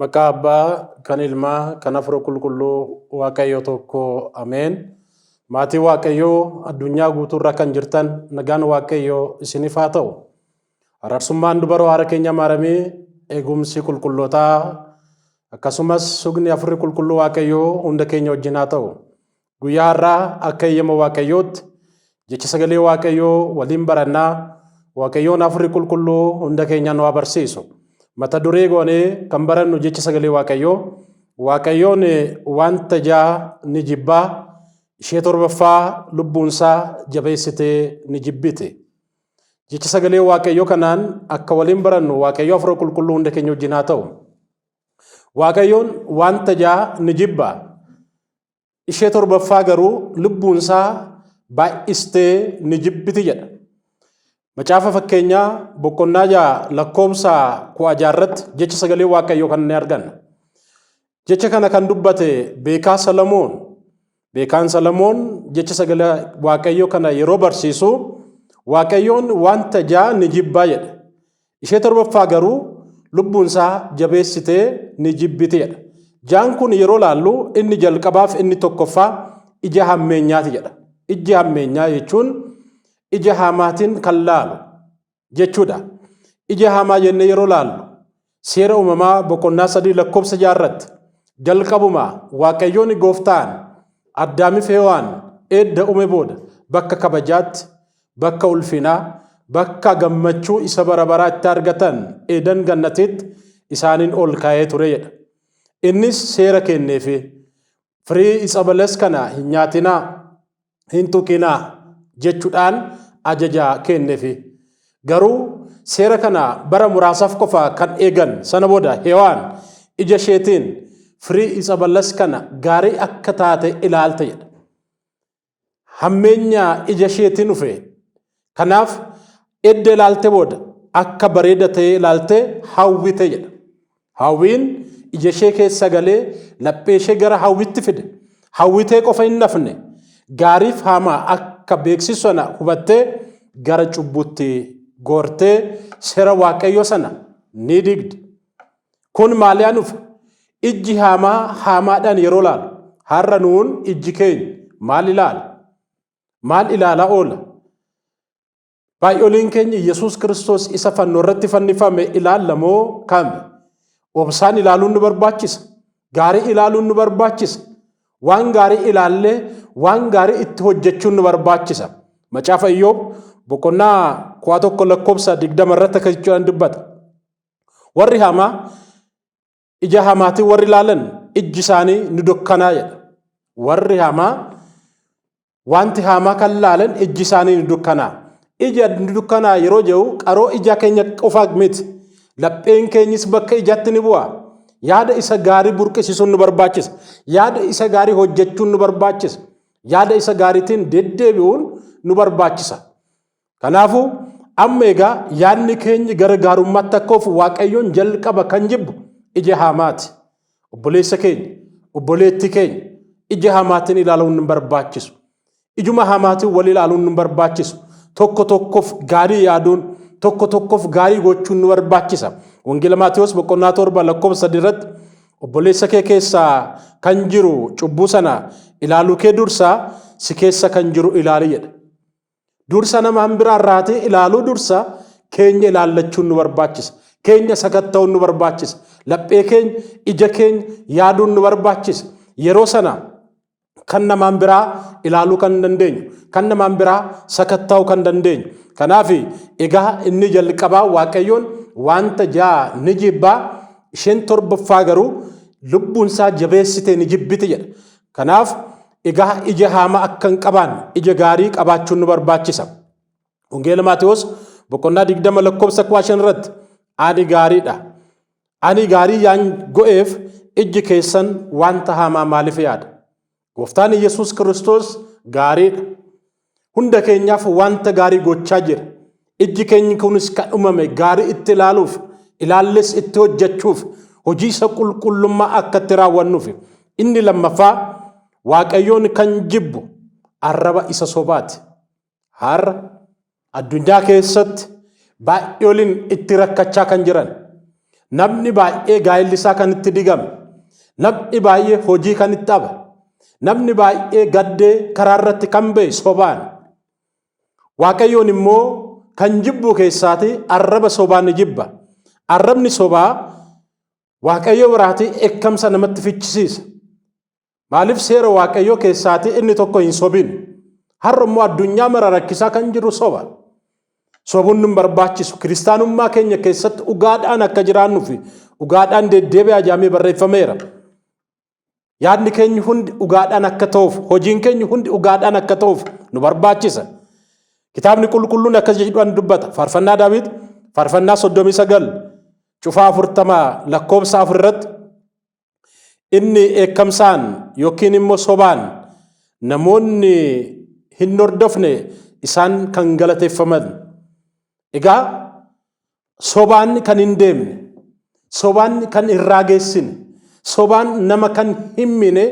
Maqaa Abbaa, kan Ilmaa, kan Hafuura Qulqulluu Waaqayyo tokko Ameen. Maatii Waaqayyoo addunyaa guutuurra kan jirtan nagaan Waaqayyoo isiniif haa ta'u. Araarsummaan dubaroo haara keenya maaramii eegumsi qulqullootaa akkasumas sugni Hafuurri Qulqulluu Waaqayyoo hunda keenya wajjin haa ta'u. Guyyaa har'aa akka eeyyama Waaqayyootti jecha sagalee Waaqayyoo waliin barannaa Waaqayyoon hafuurri qulqulluu hunda keenya nu barsiisu. Mata duree goonee kan barannu jecha sagalee Waaqayyoo Waaqayyoon wanta ja'a ni jibbaa ishee torbaffaa lubbuunsaa jabeessitee ni jibbiti. Jecha sagalee Waaqayyoo kanaan akka waliin barannu Waaqayyoo hafuura qulqulluu hunda keenya wajjin haa ta'u. Waaqayyoon wanta ja'a ni jibba. Ishee torbaffaa garuu lubbuun isaa baay'istee ni jibbiti jedha. Macaafa fakkeenyaa boqonnaa ja'a lakkoofsa kudha ja'a irratti jecha sagalee waaqayyoo kan ni arganna. Jecha kana kan dubbate beekaa Salamoon. Beekaan Salamoon jecha sagalee waaqayyoo kana yeroo barsiisu waaqayyoon wanta ja'a ni jibbaa jedha. Ishee torbaffaa garuu lubbuun isaa jabeessitee ni jibbiteedha. Jaan kun yeroo laallu inni jalqabaaf inni tokkoffaa ija hammeenyaati jedha. Ijji hammeenyaa jechuun ija haamaatiin kan laalu jechuudha. Ija haamaa jennee yeroo laallu seera uumamaa boqonnaa sadii lakkoofsa jaarratti jalqabuma waaqayyoon gooftaan addaamiif hewaan eedda uume booda bakka kabajaatti bakka ulfinaa, bakka gammachuu isa bara baraa itti argatan Eedan Gannatiitti isaaniin ol kaa'ee ture jedha. Innis seera kenneefi firii itsa bales kana hin nyaatinaa, hin tuqinaa jechuudhaan ajaja kenneefi. Garuu seera kana bara muraasaaf qofa kan eegan sana booda Hewaan ija isheetiin firii itsa bales kana gaarii akka taate ilaalte jedha. hammeenya ija isheetiin dhufe. Kanaaf edda ilaalte booda akka bareeda ta'ee ilaalte hawwite jedha. Hawwiin ija ishee keessa galee laphee ishee gara hawwitti fide. Hawwitee qofa hin hafne gaariif haamaa akka beeksisu sana hubattee gara cubbuutti goortee seera waaqayyoo sana ni digde. Kun maaliyaa nufa? Ijji haamaa haamaadhaan yeroo laalu. Har'a nuun ijji keenya maal ilaala? Maal ilaalaa oola? Baay'oleen keenya Yesuus Kiristoos isa fannoo irratti fannifame ilaalla moo kami? Obsaan ilaaluun nu barbaachisa. Gaarii ilaaluun nu barbaachisa. Waan gaarii ilaallee waan gaarii itti hojjechuun nu barbaachisa. Macaafa Iyyoob boqonnaa kudha tokko lakkoofsa digdama irratti akka jechuudhaan dubbata. Warri hamaa ija hamaatiin warri laalan ijji isaanii ni dukkanaa jedha. Warri hamaa wanti hamaa kan laalan ijji isaanii ni dukkanaa. Ija ni dukkanaa yeroo jedhu qaroo ija keenya qofa miti. Lapheen keenyis bakka ijaatti ni bu'a. Yaada isa gaarii burqisiisuun nu barbaachisa. Yaada isa gaarii hojjechuun nu barbaachisa. Yaada isa gaariitiin deddeebi'uun nu barbaachisa. Kanaafuu amma egaa yaadni keenyi gara gaarummaatti akka ofu waaqayyoon jalqaba kan jibbu ija haamaati. Obboleessa keenya, obboleettii keenya ija haamaatiin ilaaluun hin barbaachisu. Ijuma haamaatiin wal ilaaluun hin barbaachisu. Tokko tokkoof gaarii yaaduun, tokko tokkoof gaarii gochuun nu barbaachisa. Wangeela Maatewos boqonnaa torba lakkoofsa sadii irratti obboleessa kee keessaa kan jiru cubbuu sana ilaaluu kee dursaa si keessa kan jiru ilaali jedha. Dursa nama han biraa irraatii ilaaluu dursa keenya ilaallachuun nu barbaachisa. Keenya sakatta'uun nu barbaachisa. Laphee keenya, ija keenya yaaduun nu barbaachisa. Yeroo sana kan namaan biraa ilaaluu kan dandeenyu, kan namaan biraa sakatta'uu kan dandeenyu. Kanaaf egaa inni jalqabaa Waaqayyoon wanta ja'a ni jibbaa isheen torbaffaa garuu lubbuunsaa jabeessitee ni jibbiti jedha. Kanaaf egaa ija haamaa akka hin qabaanne ija gaarii qabaachuun nu barbaachisa. Wangeela Maatewos boqonnaa 20 lakkoofsa 15 irratti ani gaariidha. Ani gaarii yaan go'eef ijji keessan wanta haamaa maaliif yaada? Gooftaan Yesuus Kiristoos gaariidha. Hunda keenyaaf wanta gaarii gochaa jira. Ijji keenyi kunis kan uumame gaarii itti ilaaluuf, ilaallees itti hojjechuuf, hojii isa qulqullummaa akka itti raawwannuuf. Inni lammaffaa Waaqayyoon kan jibbu arraba isa sobaati. Har'a addunyaa keessatti baay'ee waliin itti rakkachaa kan jiran Namni baay'ee gaa'illi isaa kan itti digame, namni baay'ee hojii kan itti dhabe, namni baay'ee gaddee karaa irratti kan ba'e sobaan. Waaqayyoon immoo kan jibbuu keessaati arraba sobaa ni jibba. Arrabni sobaa Waaqayyo biraatii ekkamsa namatti fichisiisa. Maaliif seera Waaqayyoo keessaatii inni tokko hin sobin? Har'a immoo addunyaa mara rakkisaa kan jiru soba. Sobuun nun barbaachisu kiristaanummaa keenya keessatti dhugaadhaan akka jiraannuu fi dhugaadhaan deddeebi'aa jaamee barreeffameera. Yaadni keenya hundi dhugaadhaan akka ta'uuf, hojiin keenya hundi dhugaadhaan akka ta'uuf nu barbaachisa. Kitaabni qulqulluun akkas jedhuudhaan dubbata. Faarfannaa Daawit, faarfannaa 39, cufaa 40 lakkoofsa 4 irratti Inni eekkamsaan yookiin immoo sobaan namoonni hin hordofne isaan kan galateeffaman. Egaa sobaan kan hin deemne, sobaan kan hin raageessine, sobaan nama kan hin miine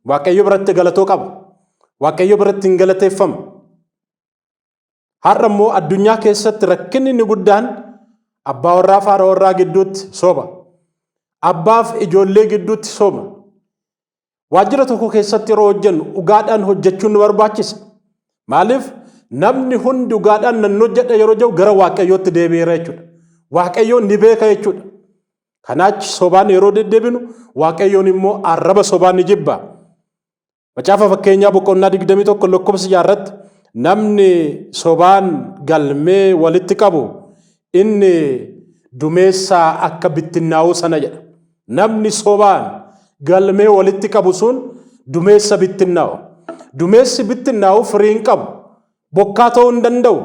Waaqayyo biratti galatoo qaba. Waaqayyo biratti hin galateeffamu. Har'a immoo addunyaa keessatti rakkinni inni guddaan abbaa warraa faara warraa gidduutti soba. Abbaaf ijoollee gidduutti soba. Waajjira tokko keessatti yeroo hojjennu dhugaadhaan hojjechuun nu barbaachisa. Maaliif namni hundi dhugaadhaan nan hojjedha yeroo jedhu gara waaqayyootti deebi'eera jechuudha. Waaqayyoon ni beeka jechuudha. Kanaachi sobaan yeroo deddeebinu waaqayyoon immoo arraba sobaa ni jibba. Macaafa fakkeenyaa boqonnaa 21 lakkoofsa jaarratti namni sobaan galmee walitti qabu inni dumeessaa akka bittinnaa'uu sana jedha. Namni sobaan galmee walitti qabu sun dumeessa bittinnaa'u. Dumeessi bittinnaa'u firii hin qabu. Bokkaa ta'uu hin danda'u.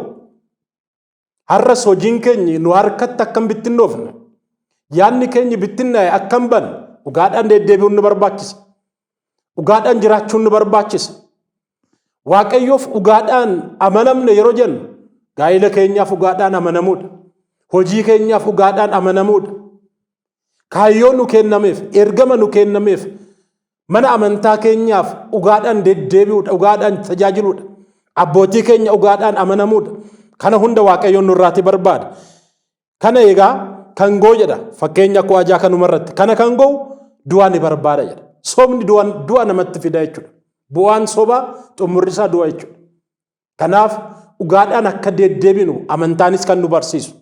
Har'as hojiin keenyi nu harkatti akka hin bittinnoofne, yaadni keenyi bittinnaa'e akka hin banne dhugaadhaan deddeebi'uun nu barbaachisa. Dhugaadhaan jiraachuun nu barbaachisa. Waaqayyoof dhugaadhaan amanamne yeroo jennu gaa'ila keenyaaf dhugaadhaan amanamuudha. Hojii keenyaaf dhugaadhaan amanamuudha. Kaayyoo nu kennameef, ergama nu kennameef Mana amantaa keenyaaf dhugaadhaan deddeebi'uudha, dhugaadhaan tajaajiluudha. Abbootii keenya dhugaadhaan amanamuudha. Kana hunda Waaqayyoon nurraatii barbaada. Kana egaa kan goo jedha fakkeenya koo ajaa kanumarratti. Kana kan goo du'a ni barbaada jedha. Sobni du'a namatti fida jechuudha. Bu'aan sobaa xumurri isaa du'a jechuudha. Kanaaf dhugaadhaan akka deddeebinu amantaanis kan nu barsiisu.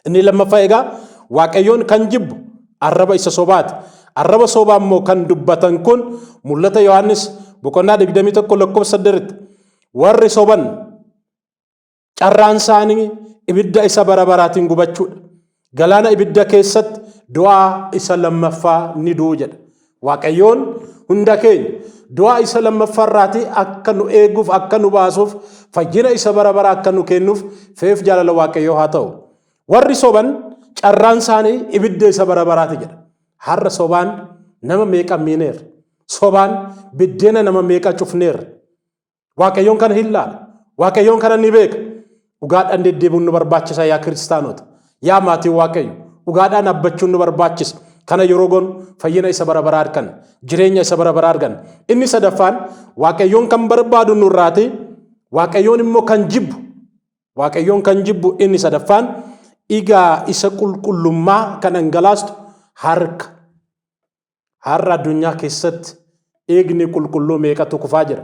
Inni lammaffaa egaa Waaqayyoon kan jibbu arraba isa sobaati. Arraba sobaa immoo kan dubbatan kun mul'ata Yohaannis boqonnaa 21 lakkoofsa 8 warri soban carraan isaanii ibidda isa bara baraatiin gubachuudha. Galaana ibidda keessatti du'aa isa lammaffaa ni du'u jedha. Waaqayyoon hunda keenya du'aa isa lammaffaa irraatii akka nu eeguuf akka nu baasuuf fayyina isa bara bara akka nu kennuuf feef jaalala waaqayyoo haa ta'u. Warri soban carraan isaanii ibidda isa bara baraati jedha. Har'a sobaan nama meeqa miineerra. Sobaan biddeena nama meeqa cufneerra. Waaqayyoon kana hin laala. Waaqayyoon kana ni beeka. Dhugaadhaan deddeebiin nu barbaachisa yaa kiristaanota. Yaa maatii Waaqayyo. Dhugaadhaan abbachuun nu barbaachisa. Kana yeroo goonu fayyina isa bara baraa arganna. Jireenya isa bara baraa arganna. Inni sadaffaan Waaqayyoon kan barbaadu nurraati. Waaqayyoon immoo kan jibbu. Waaqayyoon kan jibbu inni sadaffaan dhigaa isa qulqullummaa kan dhangalaastu harka. Har'a addunyaa keessatti dhiigni qulqulluu meeqatu kufaa jira.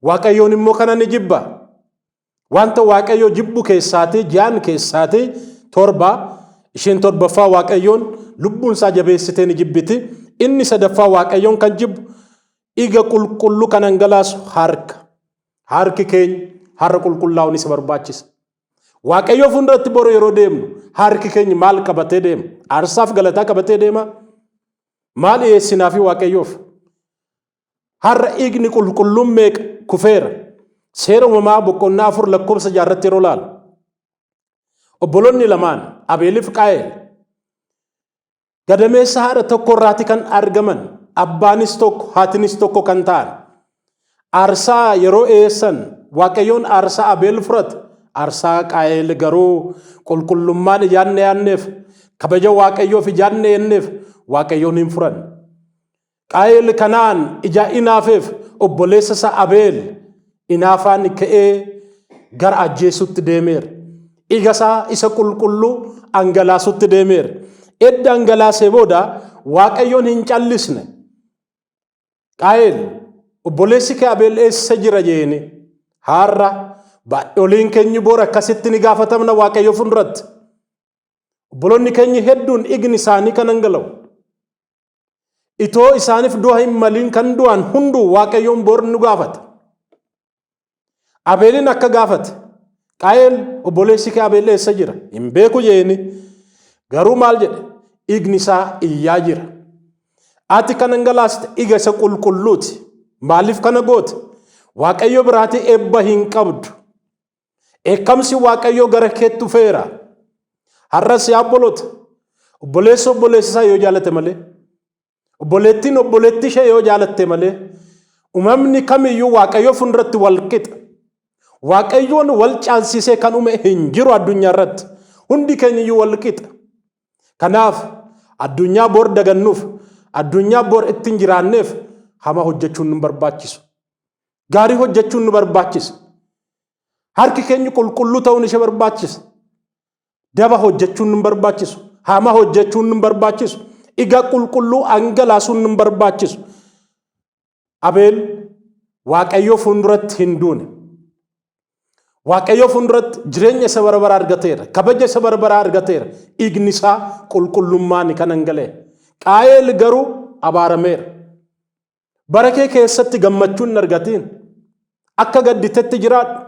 Waaqayyoon immoo kana ni jibba. Wanta Waaqayyo jibbu keessaatii ji'aan keessaatii torba isheen torbaffaa Waaqayyoon lubbuun isaa jabeessitee ni jibbiti. Inni sadaffaa Waaqayyoon kan jibbu dhiiga qulqulluu kan hangalaasu harka. Harki keenya har'a qulqullaa'uun isa barbaachisa. Waaqayyoo fuulduratti boru yeroo deemnu harki keenya maal qabatee deema? Aarsaaf galataa qabatee deema? Maal dhiyeessinaafi Waaqayyoof? Har'a dhiigni qulqulluun meeqa kufeera? Seera uumamaa boqonnaa afur lakkoofsa jaarratti yeroo laalu. Obboloonni lamaan Abeeliif Qaa'eel gadameessa haadha tokko irraati kan argaman abbaanis tokko haatinis tokko kan ta'an aarsaa yeroo eessan waaqayyoon aarsaa abeel fudhate aarsaa qaa'eel garuu qulqullummaan ijaanne yaanneef kabaja waaqayyoof ijaanne yenneef waaqayyoon hin fudhanne. Qaayel kanaan ijaa inaafeef obboleessa isaa Abeel inaafaan ka'ee gara ajjeesutti deemeera. Dhiiga isaa isa qulqulluu angalaasutti deemeera. Edda angalaasee booda Waaqayyoon hin callisne. Qaayel obboleessi kee Abeel eessa jira jeeni? Haarra baadholiin keenyi boora akkasitti ni gaafatamna Waaqayyo fuulduratti. Obboloonni keenya hedduun dhiigni isaanii kan hangala'u. Itoo isaaniif du'a hin maliin kan du'an hunduu Waaqayyoon bor nu gaafata. Abeeliin akka gaafate Qaayel obboleessi kee Abeel eessa jira? Hin beeku jeeni. Garuu maal jedhe? Dhiigni isaa iyyaa jira. Ati kan dhangalaasite dhiiga isa qulqulluuti. Maaliif kana goote? Waaqayyo biraatii eebba hin qabdu. Dheekkamsi Waaqayyoo gara keetti dhufeera. Har'as yaa obboloota, obboleessi obboleessa isaa yoo jaalate malee, obboleettiin obboleettii ishee yoo jaalatte malee, uumamni kamiyyuu Waaqayyoo fuulduratti wal qixa. Waaqayyoon wal caalsisee kan uume hin jiru addunyaa irratti. Hundi keenyayyuu wal qixa. Kanaaf addunyaa bor dagannuuf, addunyaa bor ittiin jiraanneef hamaa hojjechuun nu barbaachisu. Gaarii hojjechuun nu barbaachisa. Harki keenya qulqulluu ta'uun ishee barbaachisa. Daba hojjechuun nu barbaachisu. Hama hojjechuun nu barbaachisu. Dhiga qulqulluu angalaasuun nu barbaachisu. Abeel Waaqayyoo fuulduratti hin duune. Waaqayyoo fuulduratti jireenya isa bara baraa argateera. Kabaja isa bara baraa argateera. Dhiigni isaa qulqullummaan kan angalaa'e. Qaayeel garuu abaarameera. Bara kee keessatti gammachuu hin argatiin. Akka gadditetti jiraadhu.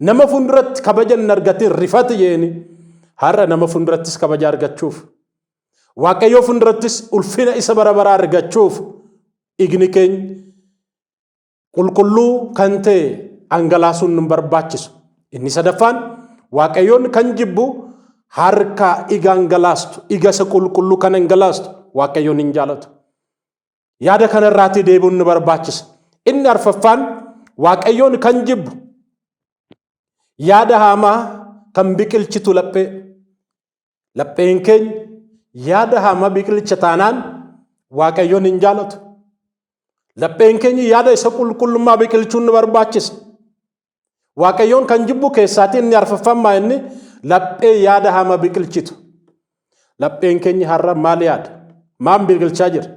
Nama fuulduratti kabaja hin argatiin rifati jeeni. Har'a nama fuuldurattis kabaja argachuuf. Waaqayyoo fuuldurattis ulfina isa bara baraa argachuuf dhiigni keenya qulqulluu kan ta'e dhangalaasuun nu barbaachisu. Inni sadaffaan Waaqayyoon kan jibbu harka dhiiga dhangalaastu, dhiiga isa qulqulluu kan dhangalaastu Waaqayyoon hin jaalatu. Yaada kana irraatii deebi'uun nu barbaachisa. Inni arfaffaan Waaqayyoon kan jibbu yaada haamaa kan biqilchitu laphee. Lapheen keenya yaada haamaa biqilcha taanaan Waaqayyoon hin jaalatu. Lapheen keenya yaada isa qulqullummaa biqilchuun nu barbaachisa. Waaqayyoon kan jibbu keessaatii inni arfaffammaa inni laphee yaada hamaa biqilchitu. Lapheen keenya har'a maal yaada? Maan biqilchaa jira?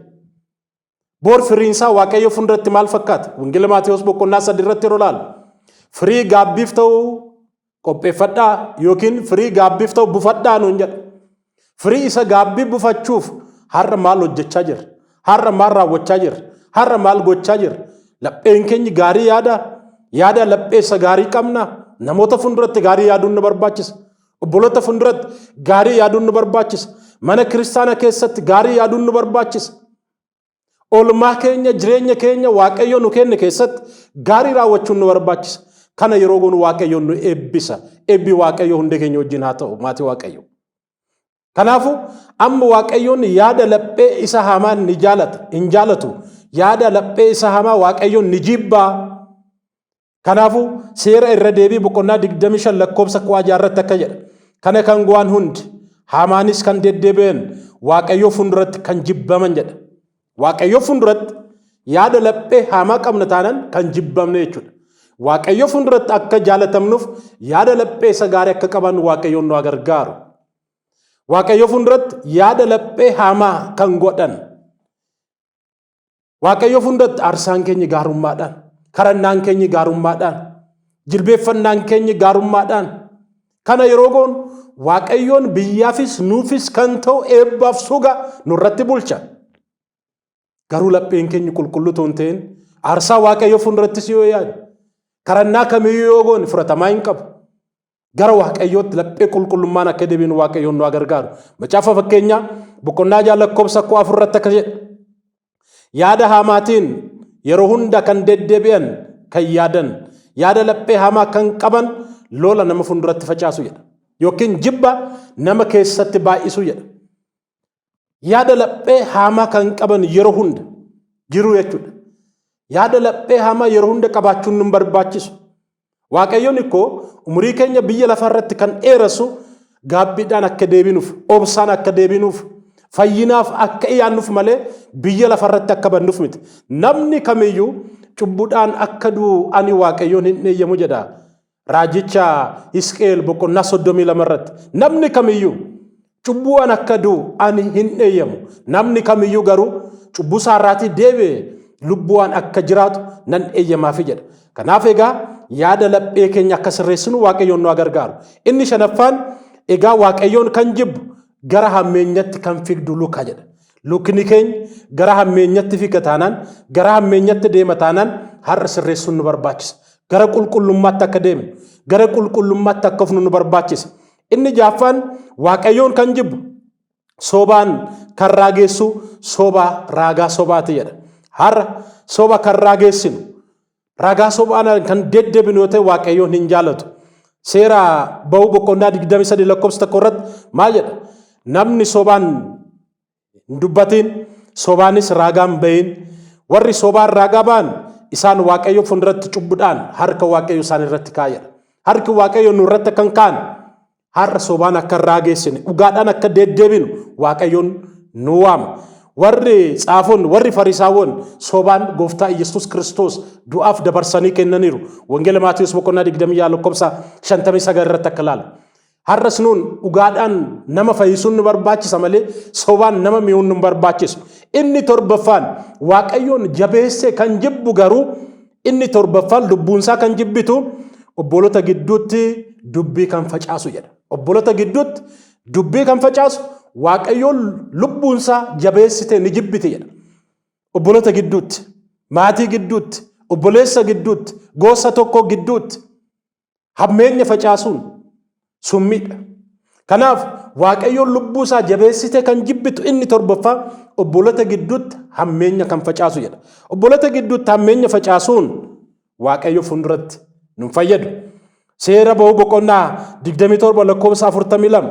Boor firiinsaa Waaqayyo fuulduratti maal fakkaata? Wangeela Maatiyus boqonnaa sadii irratti yeroo ilaalu firii gaabbiif ta'u qopheeffadhaa yookiin firii gaabbiif ta'u bufadhaa nuun jedha. Firii isa gaabbii bufachuuf har'a maal hojjechaa jirra? Har'a maal raawwachaa jirra? Har'a maal gochaa jirra? Lapheen keenyi gaarii yaada? Yaada laphee isa gaarii qabna? Namoota fuulduratti gaarii yaaduun nu barbaachisa. Obboloota fuulduratti gaarii yaaduun nu barbaachisa. Mana kiristaana keessatti gaarii yaaduun nu barbaachisa. Oolmaa keenya jireenya keenya Waaqayyo nu kenne keessatti gaarii raawwachuun nu barbaachisa. Kana yeroo goonu Waaqayyo nu eebbisa. Eebbi Waaqayyo hundee keenya wajjin haa ta'u maatii Waaqayyo. Kanaafuu amma Waaqayyoon yaada laphee isa hamaa ni jaalata hin jaalatu yaada laphee isa hamaa Waaqayyoon ni jibbaa Kanaafuu seera irra deebii boqonnaa 25 lakkoobsa ku'aa jaarratti akka jedha. Kana kan go'an hundi haamaanis kan deddeebi'an waaqayyoo fuulduratti kan jibbaman jedha. Waaqayyoo fuulduratti yaada laphee haamaa qabna taanaan kan jibbamne jechuudha. Waaqayyoo fuulduratti akka jaalatamnuuf yaada laphee isa gaarii akka qabaannu waaqayyoon nu gargaaru. Waaqayyoo fuulduratti yaada laphee haamaa kan godhan Waaqayyoof hundatti aarsaan keenya gaarummaadhaan, kadhannaan keenya gaarummaadhaan, jilbeeffannaan keenya gaarummaadhaan kana yeroo goonu Waaqayyoon biyyaafis nuufis kan ta'u eebbaaf suga nurratti bulcha. Garuu lapheen keenya qulqulluu ta'uu hin ta'in aarsaa Waaqayyoo fuuldurattis yoo yaadu kadhannaa kamiyyuu yoo goone fudhatamaa hin qabu. Gara Waaqayyootti laphee qulqullummaan akka deebiin Waaqayyoon nu gargaaru. Macaafa fakkeenyaa boqonnaa ja'a lakkoofsa koo afur irratti akka jedhe. Yaada haamaatiin yeroo hunda kan deddeebi'an kan yaadan yaada laphee hamaa kan qaban lola nama fuulduratti facaasu jedha. Yookiin jibba nama keessatti baay'isu jedha. yaada laphee haamaa kan qaban yeroo hunda jiru jechuudha. Yaada laphee haamaa yeroo hunda qabaachuun nun barbaachisu. Waaqayyoon ikkoo umurii keenya biyya lafaa irratti kan dheeressu gaabbiidhaan akka deebinuuf, obsaan akka deebinuuf, fayyinaaf akka iyaannuuf malee biyya lafa irratti akka bannuuf miti. Namni kamiyyuu cubbuudhaan akka du'u ani waaqayyoon hin eeyyamu jedha. Raajicha Hisqi'eel boqonnaa soddomii lama irratti namni kamiyyuu cubbuu an akka du'u ani hin eeyyamu. Namni kamiyyuu garuu cubbuu isaa irraatii deebi'e lubbuwaan akka jiraatu nan eeyyamaafi jedha. Kanaaf egaa yaada laphee keenya akka sirreessinu Waaqayyoon nu gargaaru. Inni shanaffaan egaa Waaqayyoon kan jibbu gara hammeenyatti kan figdu luka jedha. Lukkni keenya gara hammeenyatti figa taanaan, gara hammeenyatti deema taanaan har'a sirreessuun nu barbaachisa. Gara qulqullummaatti akka deemnu, gara qulqullummaatti akka ofnu nu barbaachisa. Inni jaaffaan Waaqayyoon kan jibbu sobaan kan raageessu soba raagaa sobaati jedha. Har'a soba kan raageessinu Ragaa sobaan kan deddebinu yoo ta'e Waaqayyoon hin jaalatu. Seera ba'uu boqonnaa 23 lakkoofsa tokko irratti maal jedha? Namni sobaan hin dubbatiin, sobaanis raagaan ba'iin. Warri sobaan raagaa ba'an isaan Waaqayyo fuulduratti cubbudhaan harka Waaqayyo isaan irratti kaa'edha. Harki Waaqayyo nu irratti akka hin kaane Har'a sobaan akka hin raageessine, dhugaadhaan akka deeddeebinu Waaqayyoon nu waama. Warri tsaafonni, warri farisaawwan sobaan gooftaa Iyyasuus Kiristoos du'aaf dabarsanii kennaniiru. Wangeela Maatiyus boqonnaa 26 lakkoofsa 59 irratti akka ilaalu. Har'as nuun dhugaadhaan nama fayyisuun nu barbaachisa malee sobaan nama mi'uun nu barbaachisu. Inni torbaffaan Waaqayyoon jabeessee kan jibbu garuu Inni torbaffaan lubbuunsaa kan jibbitu obbolota gidduutti dubbii kan facaasu jedha. Obbolota gidduutti dubbii kan facaasu waaqayyoon lubbuunsaa jabeessitee ni jibbiti jedha. Obbolota gidduutti, maatii gidduutti, obboleessa gidduutti, gosa tokko gidduutti Hammeenya facaasuun summiidha. Kanaaf Waaqayyoon lubbuu isaa jabeessitee kan jibbitu inni torbaffaa obbolota gidduutti hammeenya kan facaasu jedha. Obbolota gidduutti hammeenya facaasuun Waaqayyo fuulduratti nun fayyadu. Seera ba'uu boqonnaa 27 lakkoofsa 42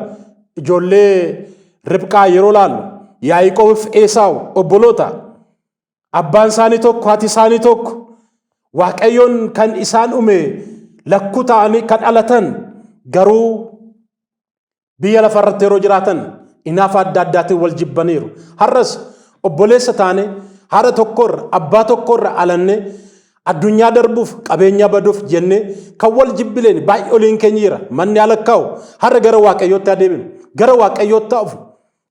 ijoollee Ribqaa yeroo laalu Yaaqoobiif Eesaawu obboloota Abbaan isaanii tokko, haati isaanii tokko. Waaqayyoon kan isaan uume lakkuu ta'anii kan dhalatan garuu biyya lafa irratti yeroo jiraatan inaafa adda addaatiin wal jibbaniiru. Har'as obboleessa taane haadha tokkorra abbaa tokkorra alanne addunyaa darbuuf qabeenya baduuf jennee kan wal jibbileen baay'ee oliin keenya jira manni alakkaa'u har'a gara waaqayyootti adeeminu gara waaqayyootti hafu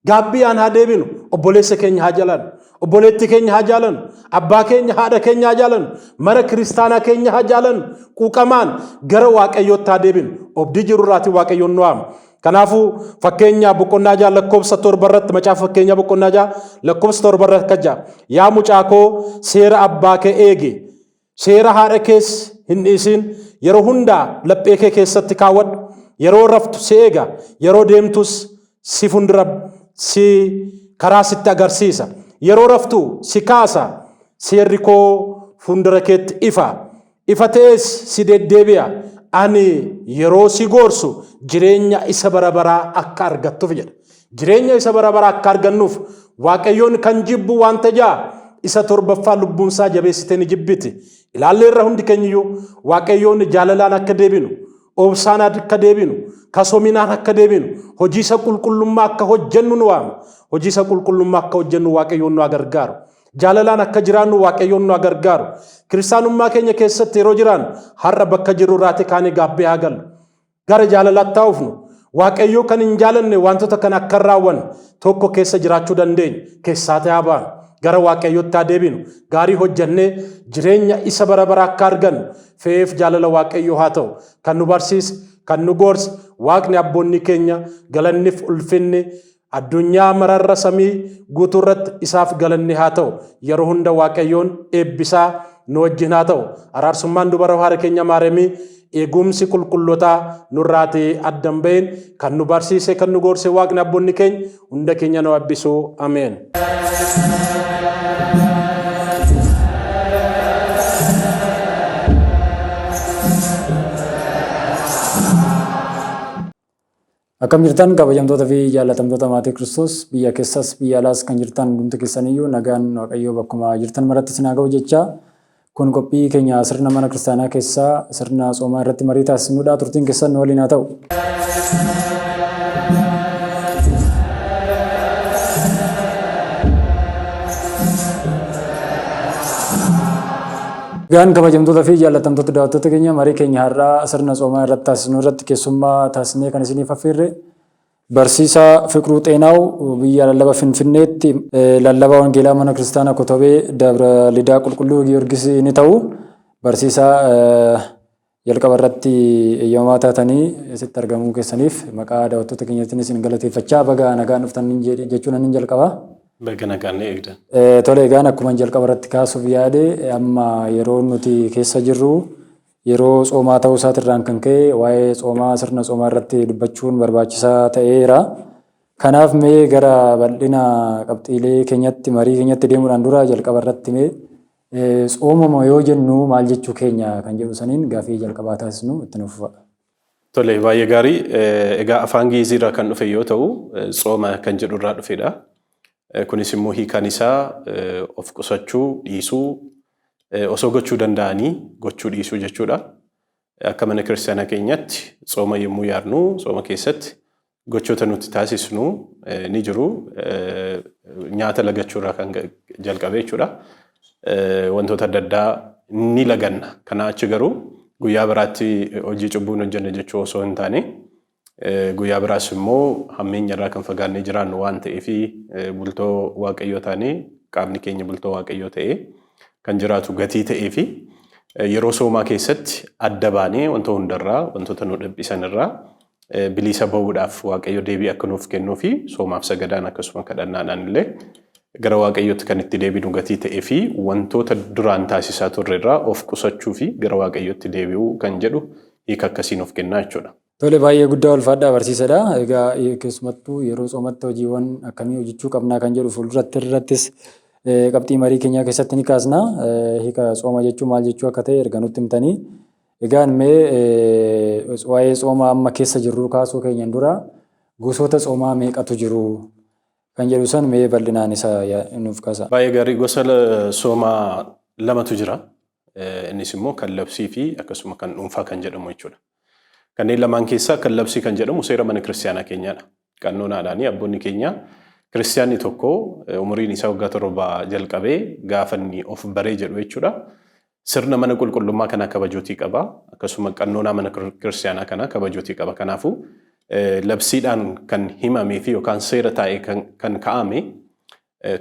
Gaabbiyaan haa deebinu, obboleessa keenya haa jaalannu, obboleetti keenya haa jaalannu, abbaa keenya, haadha keenya haa jaalannu, mana kiristaanaa keenya haa jaalannu, quuqamaan gara Waaqayyootti haa deebinu. Obdii jiru irraati Waaqayyoon nu waama. Kanaafuu fakkeenyaa boqonnaa ja'a lakkoofsa torba irratti macaafa fakkeenyaa boqonnaa ja'a lakkoofsa torba irratti akka ja'a. Yaa mucaa koo seera abbaa kee eegi. Seera haadha kees hin dhiisiin, yeroo hundaa laphee kee keessatti kaawwadhu, yeroo raftu si eega, yeroo deemtus si fundura si karaa sitti agarsiisa, yeroo raftu si kaasa, seerri koo fundura keetti ifa, ifa ta'ees si deddeebi'a, ani yeroo si goorsu jireenya isa bara baraa akka argattuuf jedha. Jireenya isa bara baraa akka argannuuf Waaqayyoon kan jibbu wanta ja'a isa torbaffaa lubbuunsaa jabeessitee ni jibbiti. Ilaalleerra hundi keenyiyyuu Waaqayyoon jaalalaan akka deebinu, obsaan akka deebinu, kasoominaan akka deebinu, hojii isa qulqullummaa akka hojjennu nu waama. Hojii isa qulqullummaa akka hojjennu Waaqayyoon nu gargaaru. Jaalalaan akka jiraannu Waaqayyoon nu gargaaru. Kiristaanummaa keenya keessatti yeroo jiraannu har'a bakka jirru irraati kaanee gaabbee haa gallu. Gara jaalalaatti haa dhufnu. Waaqayyoo kan hin jaalanne wantoota kana akka hin raawwanne tokko keessa jiraachuu dandeenya. Keessaatii haa baanu. Gara Waaqayyootti haa deebinu. Gaarii hojjannee jireenya isa bara baraa akka argannu fe'eef jaalala Waaqayyoo haa ta'u. Kan nu barsiise, kan nu gorse Waaqni abboonni keenya galannif ulfinni Addunyaa mararra samii guutuurratti isaaf galanni haa ta'u. Yeroo hunda Waaqayyoon eebbisaa nu wajjin haa ta'u. Araarsummaan dubara haara keenya Maariyamii eegumsi qulqullootaa nurraati adda hin ba'iin kan nu barsiise kan nu goorse Waaqni abboonni keenya hunda keenya nu abbisu. Ameen. Akkam jirtan kabajamtoota fi jaallatamtoota maatii Kiristoos biyya keessas biyya alaas kan jirtan hundumti keessaniyyuu nagaan Waaqayyoo bakkuma jirtan maratti isin haa ga'u jechaa kun qophii keenya sirna mana kiristaanaa keessaa sirna soomaa irratti marii taasisnudha turtiin keessan nu waliin haa ta'u. Nagaan kabajamtoota fi jaallatamtoota daawwattoota keenya marii keenya har'aa sirna tsoomaa irratti taasisnu irratti keessummaa taasisnee kan isiniif affeerre barsiisaa Fiqruu Xeenaaw biyya lallaba Finfinneetti lallabaa wangeelaa mana kiristaanaa Kotobee Dabra Lidaa Qulqulluu Giyoorgis ni ta'u. Barsiisaa Jalqaba irratti eeyyamamaa taatanii asitti argamuu keessaniif maqaa daawwattoota keenyaatiin isin galateeffachaa baga nagaan dhuftan jechuun anin jalqaba. Baga nagaan nu eegdan. Tole egaan akkuma jalqaba irratti kaasuuf yaade amma yeroo nuti keessa jirru yeroo tsoomaa ta'uu isaatirraan kan ka'e waa'ee tsoomaa sirna tsoomaa irratti dubbachuun barbaachisaa ta'eera. Kanaaf mee gara bal'ina qabxiilee keenyatti marii keenyatti deemuudhaan dura jalqaba irratti mee Tsoomama yoo jennu maal jechuu keenya kan jedhu saniin gaafii jalqabaa taasisnu itti nuuf fufa. Tole, baay'ee gaarii. Egaa afaan Gi'izii irraa kan dhufe yoo ta'u, tsooma kan jedhu irraa dhufedha. Kunis immoo hiikaan isaa of qusachuu, dhiisuu, osoo gochuu danda'anii gochuu dhiisuu jechuudha. Akka mana kiristaanaa keenyatti tsooma yommuu yaadnu tsooma keessatti Gochoota nuti taasisnu ni jiru. Nyaata lagachuu irraa kan jalqabee jechuudha. Wantoota adda addaa ni laganna. Kanaa achi garuu guyyaa biraatti hojii cubbuun hojjenne jechuu osoo hin taane guyyaa biraas immoo hammeenya irraa kan fagaannee jiraannu waan ta'eef bultoo waaqayyoo taanee qaamni keenya bultoo waaqayyoo ta'ee kan jiraatu gatii ta'ee fi yeroo soomaa keessatti adda baanee wanta hundarraa wantoota nu dhiphisan irraa biliisa ba'uudhaaf Waaqayyo deebii akka nuuf kennuu fi soomaaf sagadaan akkasuma kadhannaadhaan illee gara Waaqayyootti kan itti deebinu gatii ta'ee fi wantoota duraan taasisaa turre irraa of qusachuu fi gara Waaqayyootti deebi'uu kan jedhu hiika akkasii nuuf kennaa jechuudha. Tole baay'ee guddaa ulfaadhaa barsiisadha. Egaa keessumattuu yeroo soomatti hojiiwwan akkamii hojjechuu qabnaa kan jedhu fuulduratti irrattis qabxii marii keenyaa keessatti ni kaasna. Hiika sooma jechuu maal jechuu akka ta'e erga nutti himtanii Egaan mee waa'ee tsooma amma keessa jirruu kaasuu keenyan dura gosoota tsoomaa meeqatu jiru kan jedhu san mee bal'inaan isa nuuf kaasa. Baay'ee gaarii gosa tsoomaa lamatu jira. Innis immoo kan labsii fi akkasuma kan dhuunfaa kan jedhamu jechuudha. Kanneen lamaan keessaa kan labsii kan jedhamu seera mana kiristiyaanaa keenyaadha. Qannonaadhaan abboonni keenya kiristiyaanni tokko umuriin isaa waggaa torba jalqabee gaafa inni of baree jedhu jechuudha. Sirna mana qulqullummaa kanaa kabajuutii qaba. Akkasuma qannoonaa mana kiristiyaanaa kanaa kabajuutii qaba. Kanaafuu labsiidhaan kan himamee fi yookaan seera taa'ee kan kaa'ame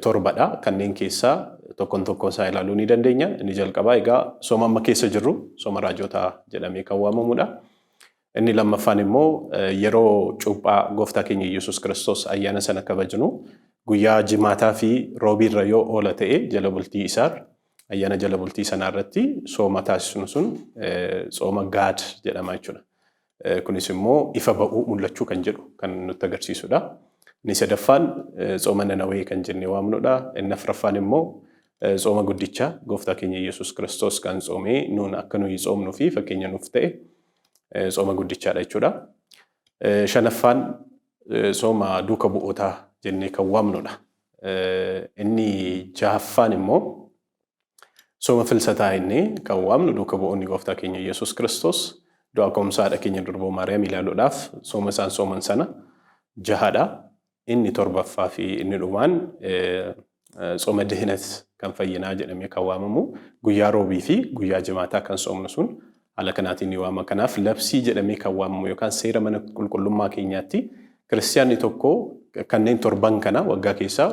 torbadha. Kanneen keessaa tokkoon tokkoon isaa ilaaluu ni dandeenya. Inni jalqabaa egaa sooma amma keessa jirru sooma raajootaa jedhamee kan waamamudha. Inni lammaffaan immoo yeroo cuuphaa gooftaa keenya Yesuus Kiristoos ayyaana sana kabajnu guyyaa jimaataa fi roobii irra yoo oola ta'e jala bultii isaar ayyaana jala bultii sanaa irratti sooma taasisnu sun sooma gaad jedhama jechuudha. Kunis immoo ifa ba'uu mul'achuu kan jedhu kan nutti agarsiisudha. Inni sadaffaan sooma nanawee kan jennee waamnudha. Inni afraffaan immoo sooma guddicha gooftaa keenya Yesuus Kiristoos kan soomee nuun akka nuyi soomnuu fi fakkeenya nuuf ta'e Tsooma guddichaadha jechuudha. Shanaffaan sooma duuka bu'ootaa jennee kan waamnudha. Inni jahaffaan immoo sooma filsataa inni kan waamnu duuka bu'oonni gooftaa keenya Yesuus Kiristoos du'a ka'umsa haadha keenya durboo Maariyaam ilaaluudhaaf sooma isaan sooman sana jahadha. Inni torbaffaa fi inni dhumaan Tsooma Dihinat kan fayyinaa jedhamee kan waamamu guyyaa Roobii fi guyyaa Jimaataa kan soomnu sun haala kanaatiin ni waama. Kanaaf labsii jedhamee kan waamamu yookaan seera mana qulqullummaa keenyaatti kiristiyaanni tokko kanneen torban kana waggaa keessaa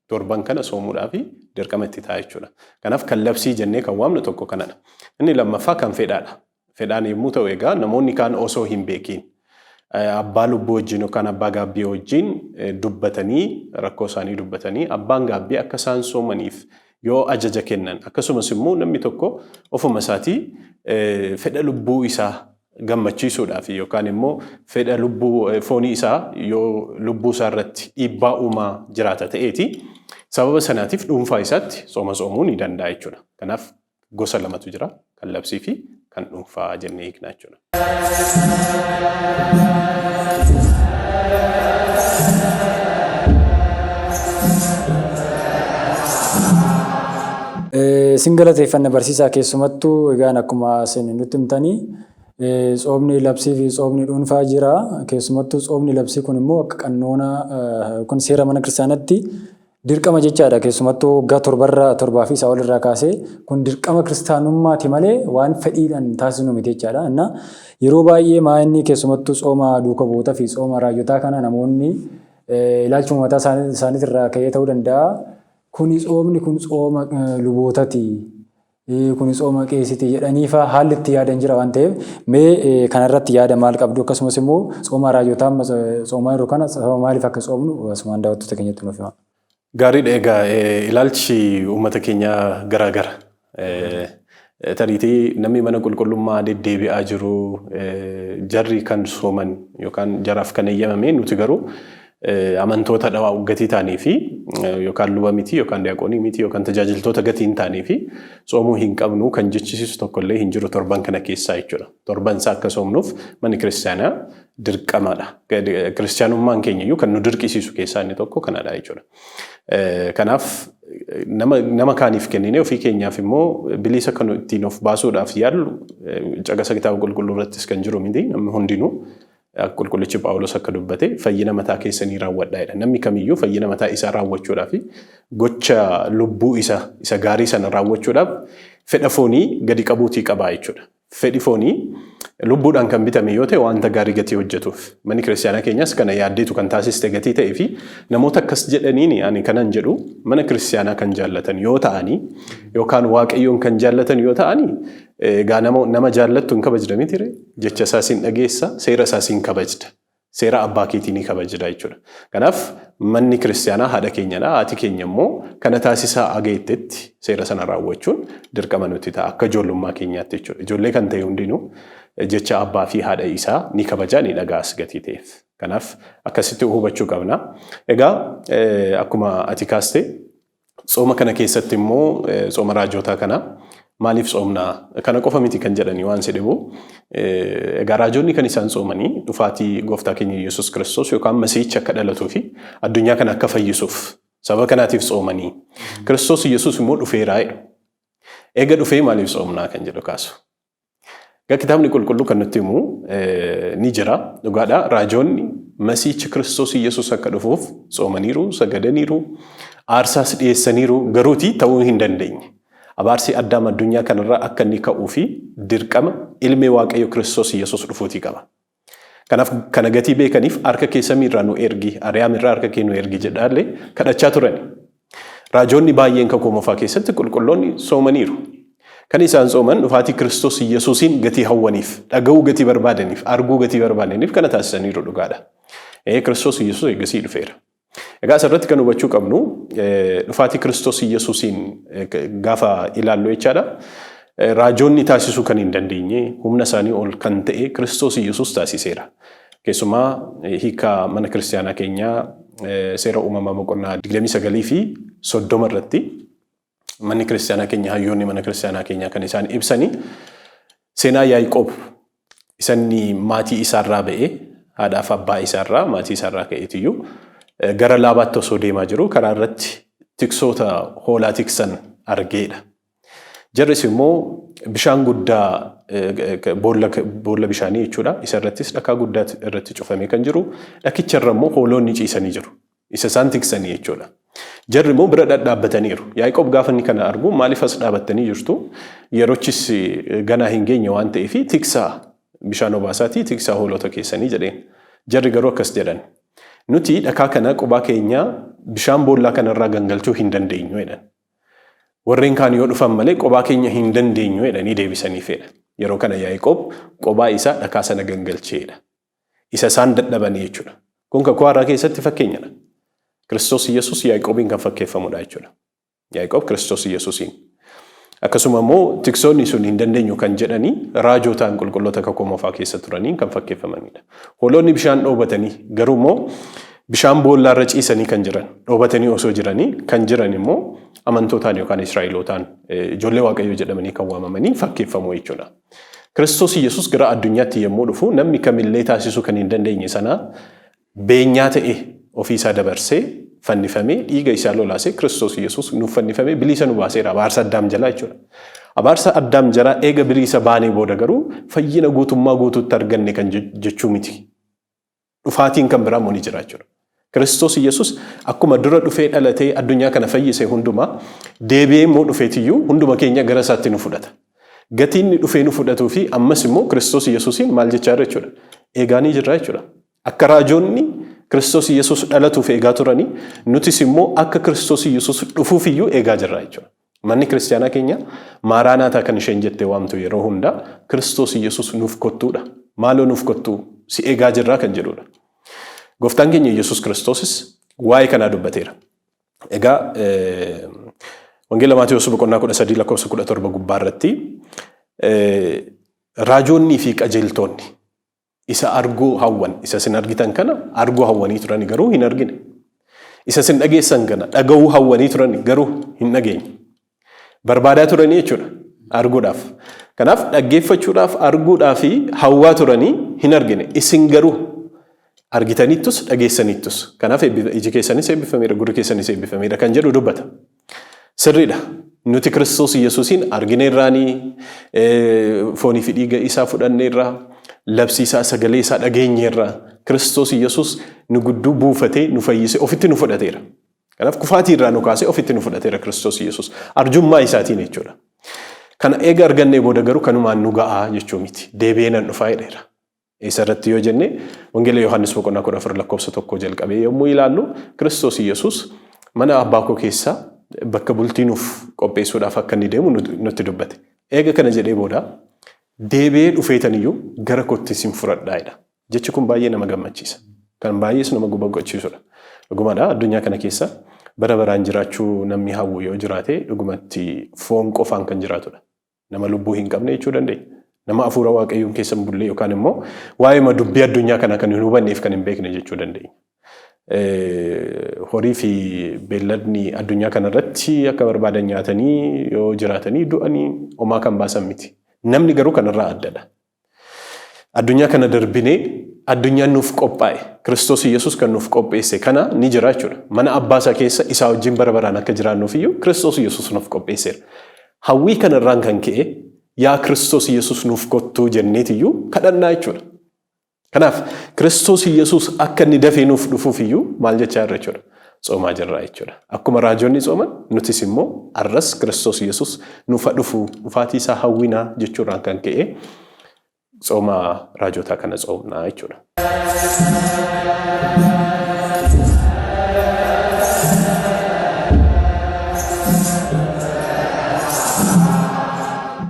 torban kana soomuudhaaf dirqama itti ta'a jechuudha. Kanaaf kan labsii jennee kan waamnu tokko kanadha. Inni lammaffaa kan fedhaadha. fedhaan yommuu ta'u egaa namoonni kaan osoo hin beekiin abbaa lubbuu wajjin yookaan abbaa gaabbii wajjin dubbatanii rakkoo isaanii dubbatanii abbaan gaabbii akka isaan soomaniif yoo ajaja kennan akkasumas immoo namni tokko ofuma isaatii fedha lubbuu isaa gammachiisuudhaaf yookaan immoo fedha lubbuu foonii isaa yoo lubbuu isaa irratti dhiibbaa uumaa jiraata ta'eeti sababa sanaatiif dhuunfaa isaatti sooma soomuu ni danda'a jechuudha. Kanaaf gosa lamatu jira. Kan labsii fi kan dhuunfaa jennee hiikna jechuudha. Isin galateeffanna barsiisaa keessumattuu egaan akkuma isin nutti himtanii tsoomni labsii fi tsoomni dhuunfaa jira. Keessumattuu tsoomni labsii kun immoo akka qannoona yookiin seera mana kiristaanatti Dirqama jechaadha keessumattuu waggaa torbarra torbaa fi isaa olirraa kaasee kun dirqama kiristaanummaati malee waan fedhiidhaan taasisnu miti jechaadha. Inna yeroo baay'ee maa inni keessumattuu tsooma duuka bu'ootaa fi tsooma raayyotaa kana namoonni ilaalchuma mataa isaaniitirraa ka'ee ta'uu danda'a. Kuni tsoomni kun tsooma lubootati. kuni tsooma qeesiti jedhaniifaa haalli itti yaadan jira waan ta'eef mee kanarratti yaada maal qabdu akkasumas immoo tsooma raajotaa amma tsoomaa jiru kana sababa maaliif akka tsoomnu asumaan daawwattoota keenyatti nuuf hima. Gaariidha egaa ilaalchi uummata keenyaa garaa gara. Tariitii namni mana qulqullummaa deddeebi'aa jiru jarri kan sooman yookaan jaraaf kan eeyyamame nuti garuu amantoota dhawaa gatii taanii fi yookaan luba miti yookaan diyaaqoonii miti yookaan tajaajiltoota gatii hin taanii fi tsoomuu hin qabnu kan jechisiisu tokkollee hin jiru torban kana keessaa jechuudha. Torban isaa akka soomnuuf manni kiristaanaa dirqamaadha. Kiristaanummaan keenya iyyuu kan nu dirqisiisu keessaa inni tokko kanadha jechuudha. Kanaaf nama, nama kaaniif kennine ofii keenyaaf immoo biliisa kan ittiin of baasuudhaaf yaallu caqasa kitaaba qulqulluu irrattis kan jiru miti namni hundinuu Qulqullichi Phaawulos akka dubbate fayyina mataa keessanii raawwadhaa jedha. Namni kamiyyuu fayyina mataa isaa raawwachuudhaa fi gocha lubbuu isa isa gaarii sana raawwachuudhaaf fedha foonii gadi qabuutii qabaa jechuudha. Fedhi foonii lubbuudhaan kan bitame yoo ta'e wanta gaarii gatii hojjetuuf. Manni kiristaanaa keenyas kana yaaddeetu kan taasiste gatii ta'ee fi namoota akkas jedhaniin ani kanan jedhu mana kiristaanaa kan jaallatan yoo ta'anii yookaan waaqayyoon kan jaallatan yoo ta'anii Egaa nama nama jaallattu hin kabajda mitire? Jecha isaa sin dhageessa, seera isaa sin kabajda. Seera abbaa keetii ni kabajda jechuudha. Kanaaf manni kiristaanaa haadha keenyadha. Haati keenya immoo kana taasisaa aga jettetti seera sana raawwachuun dirqama nutti ta'a akka ijoollummaa keenyaatti jechuudha. Ijoollee kan ta'e hundinuu jecha abbaa fi haadha isaa ni kabajaa ni dhaga'as gatii ta'eef. Kanaaf akkasitti hubachuu qabna. Egaa akkuma ati kaaste Tsooma kana keessatti immoo tsooma raajootaa kana maaliif tsoomna? Kana qofa miti kan jedhanii waan sedhebu egaa raajoonni kan isaan tsoomanii dhufaatii gooftaa keenya Yesuus Kiristoos yookaan masiihichi akka dhalatuu fi addunyaa kana akka fayyisuuf sababa kanaatiif tsoomanii Kiristoos Yesuus immoo dhufeeraa jedhu. Eega dhufee maaliif tsoomnaa kan jedhu kaasu. Egaa kitaabni qulqulluu kan nutti himu ni jira. Dhugaadha raajoonni masiichi Kiristoos Yesuus akka dhufuuf tsoomaniiru, sagadaniiru, aarsaas dhiyeessaniiru garuuti ta'uu hin dandeenye. Abaarsi addaam addunyaa kanarraa akka inni ka'uu fi dirqama ilmi Waaqayyo Kiristoos Yesuus dhufuutii qaba. Kanaaf kana gatii beekaniif harka kee samii irraa nu ergi, Ariyaam irraa harka kee nu ergi jedhaa illee kadhachaa turani. Raajoonni baay'een Kakuu Moofaa keessatti qulqulloonni soomaniiru. Kan isaan sooman dhufaatii Kiristoos Iyyasuusiin gatii hawwaniif, dhaga'uu gatii barbaadaniif, arguu gatii barbaadaniif kana taasisaniiru dhugaadha. Ee Kiristoos Iyyasuus eegasii dhufeera. Egaa asirratti kan hubachuu qabnu dhufaatii Kiristoos Iyyasuusiin gaafa ilaallu jechaadha. Raajoonni taasisuu kan hin dandeenye humna isaanii ol kan ta'e Kiristoos Iyyasuus taasiseera. Keessumaa hiika mana kiristaanaa keenyaa seera uumamaa boqonnaa 29 fi 30 irratti Manni kiristaanaa keenya hayyoonni mana kiristaanaa keenyaa kan isaan ibsani seenaa Yaaqoob isanni maatii isaarraa ba'ee haadhaaf abbaa isaarraa maatii isaarraa ka'eetiyyuu eh, gara laabaatti osoo deemaa jiru karaa irratti tiksoota hoolaa tiksan argeedha. Jarris immoo bishaan guddaa eh, eh, boolla boolla bishaanii jechuudha. Isa irrattis dhakaa guddaa irratti cufamee kan jiru dhakicha irra immoo hooloonni ciisanii jiru. Isa isaan tiksanii jechuudha. Jarri immoo bira dhadhaabbataniiru. Yaaqoob gaafa inni kana argu maaliif as dhaabattanii jirtu? Yerochis ganaa hin geenye waan ta'eef tiksaa bishaan obaasaatii tiksaa hoolota keessanii jedheen. Jarri garuu akkas jedhan. Nuti dhakaa kana qubaa keenyaa bishaan boollaa kanarraa gangalchuu hin dandeenyu jedhan. Warreen kaan yoo dhufan malee qubaa keenya hin dandeenyu jedhanii deebisaniif jedha. Yeroo kana Yaaqoob qubaa isaa dhakaa sana gangalcheedha. Isa isaan dadhabanii jechuudha. Kun kakuu haaraa keessatti fakkeenyadha. Kiristoos Yesuus Yaaqoobiin kan fakkeeffamudha jechuudha. Yaaqoob Kiristoos Yesuusiin. Akkasuma immoo tiksoonni sun hin dandeenyu kan jedhanii raajootaan qulqulloota kakuu moofaa keessa turaniin kan fakkeeffamanidha. Hoolonni bishaan dhoobatanii garuu immoo bishaan boollaa irra ciisanii kan jiran dhoobatanii osoo jiranii kan jiran immoo amantootaan yookaan Israa'elootaan ijoollee Waaqayyoo jedhamanii kan waamamanii fakkeeffamu jechuudha. Kiristoos Yesuus gara addunyaatti yommuu dhufu namni kamillee taasisuu kan hin dandeenye sana beenyaa ta'e ofii isaa dabarsee fannifamee dhiiga isaa lolaasee Kiristoos Yesuus nuuf fannifamee biliisa nu baaseera abaarsa addaam jalaa jechuudha. Abaarsa addaam jalaa eega biliisa baanee booda garuu fayyina guutummaa guutuutti arganne kan jechuu miti. dhufaatiin kan biraa immoo ni jira jechuudha. Kiristoos Yesuus akkuma dura dhufee dhalatee addunyaa kana fayyise hundumaa deebi'ee immoo dhufeetiyyuu hunduma keenya gara isaatti nu fudhata. Gatiin inni dhufee nu fudhatuu fi ammas immoo Kiristoos Yesuusiin maal jechaa jira jechuudha. Eegaa ni jirra jechuudha. Akka raajoonni Kiristoos Yesuus dhalatuuf eegaa turanii nutis immoo akka Kiristoos Yesuus dhufuuf iyyuu eegaa jirra jechuudha. Manni kiristiyaanaa keenya maaraanaataa kan isheen jettee waamtu yeroo hundaa Kiristoos Yesus nuuf kottuudha. Maaloo nuuf kottuu si eegaa jirraa kan jedhuudha. Gooftaan keenya Yesus Kiristoosis waa'ee kanaa dubbateera. Egaa Wangeela Maatewos boqonnaa 13 lakkoofsa 17 gubbaa irratti raajoonnii fi qajeeltoonni Isa arguu hawwan, isa isin argitan kana arguu hawwanii turani garuu hin argine. Isa isin dhageessan kana dhaga'uu hawwanii turani garuu hin dhageenye. Barbaadaa turanii jechuudha arguudhaaf. Kanaaf dhaggeeffachuudhaaf arguudhaa fi hawwaa turanii hin argine. Isin garuu argitaniittus dhageessaniittus. Kanaaf iji keessanis eebbifameera gurri keessanis eebbifameera kan jedhu dubbata. Sirriidha. Nuti Kiristoos Yesuusiin argineerraanii, foonii fi dhiiga isaa fudhanneerra, labsii isaa, sagalee isaa dhageenyeerra. Kiristoos Yesuus nu gudduu buufatee, nu fayyisee, ofitti nu fudhateera. Kanaaf kufaatii irraa nu kaasee ofitti nu fudhateera Kiristoos Yesuus. Arjummaa isaatiin jechuudha. Kana eega argannee booda garuu kanumaan nu ga'aa jechuu miti. Deebi'ee nan dhufaa jedheera. Eessa irratti yoo jenne, Wangeela Yohaannis boqonnaa 14 lakkoofsa 1 jalqabee yommuu ilaallu, Kiristoos Yesuus mana abbaa koo keessa bakka bultii nuuf qopheessuudhaaf akka inni deemu nutti dubbate. Eega kana jedhee booda, deebi'ee dhufeetan iyyuu gara kootti isin fudhadhaa jedha. Jechi kun baay'ee nama gammachiisa. Kan baay'ees nama boqochiisudha. Dhugumadha addunyaa kana keessa bara baraan jiraachuu namni hawwu yoo jiraate dhugumatti foon qofaan kan jiraatudha. Nama lubbuu hin qabne jechuu dandeenya. Nama hafuura waaqayyoon keessa hin bulle yookaan immoo waa'eema dubbii addunyaa kanaa kan hin hubanneef kan hin beekne jechuu dandeenya. Horii fi beelladni addunyaa kanarratti akka barbaadan nyaatanii yoo jiraatanii du'anii homaa kan baasan miti. Namni garuu kanarraa addadha. Addunyaa kana darbinee addunyaan nuuf qophaa'e Kiristoos Yesuus kan nuuf qopheesse kana ni jira jechuudha. Mana abbaa isaa keessa isaa wajjin bara baraan akka jiraannuuf iyyuu Kiristoos Yesuus nuuf qopheesseera. Hawwii kana irraan kan ka'e yaa Kiristoos Yesuus nuuf kottuu jenneeti iyyuu kadhannaa jechuudha. Kanaaf Kiristoos Yesuus akka inni dafee nuuf dhufuuf iyyuu maal jechaa jirra jechuudha? Tsoomaa jirra jechuudha. Akkuma raajonni tsooman nutis immoo arras Kiristoos Yesuus nuuf dhufu dhufaatii isaa hawwinaa jechuurraan kan ka'e tsooma raajotaa kana tsoomnaa jechuudha.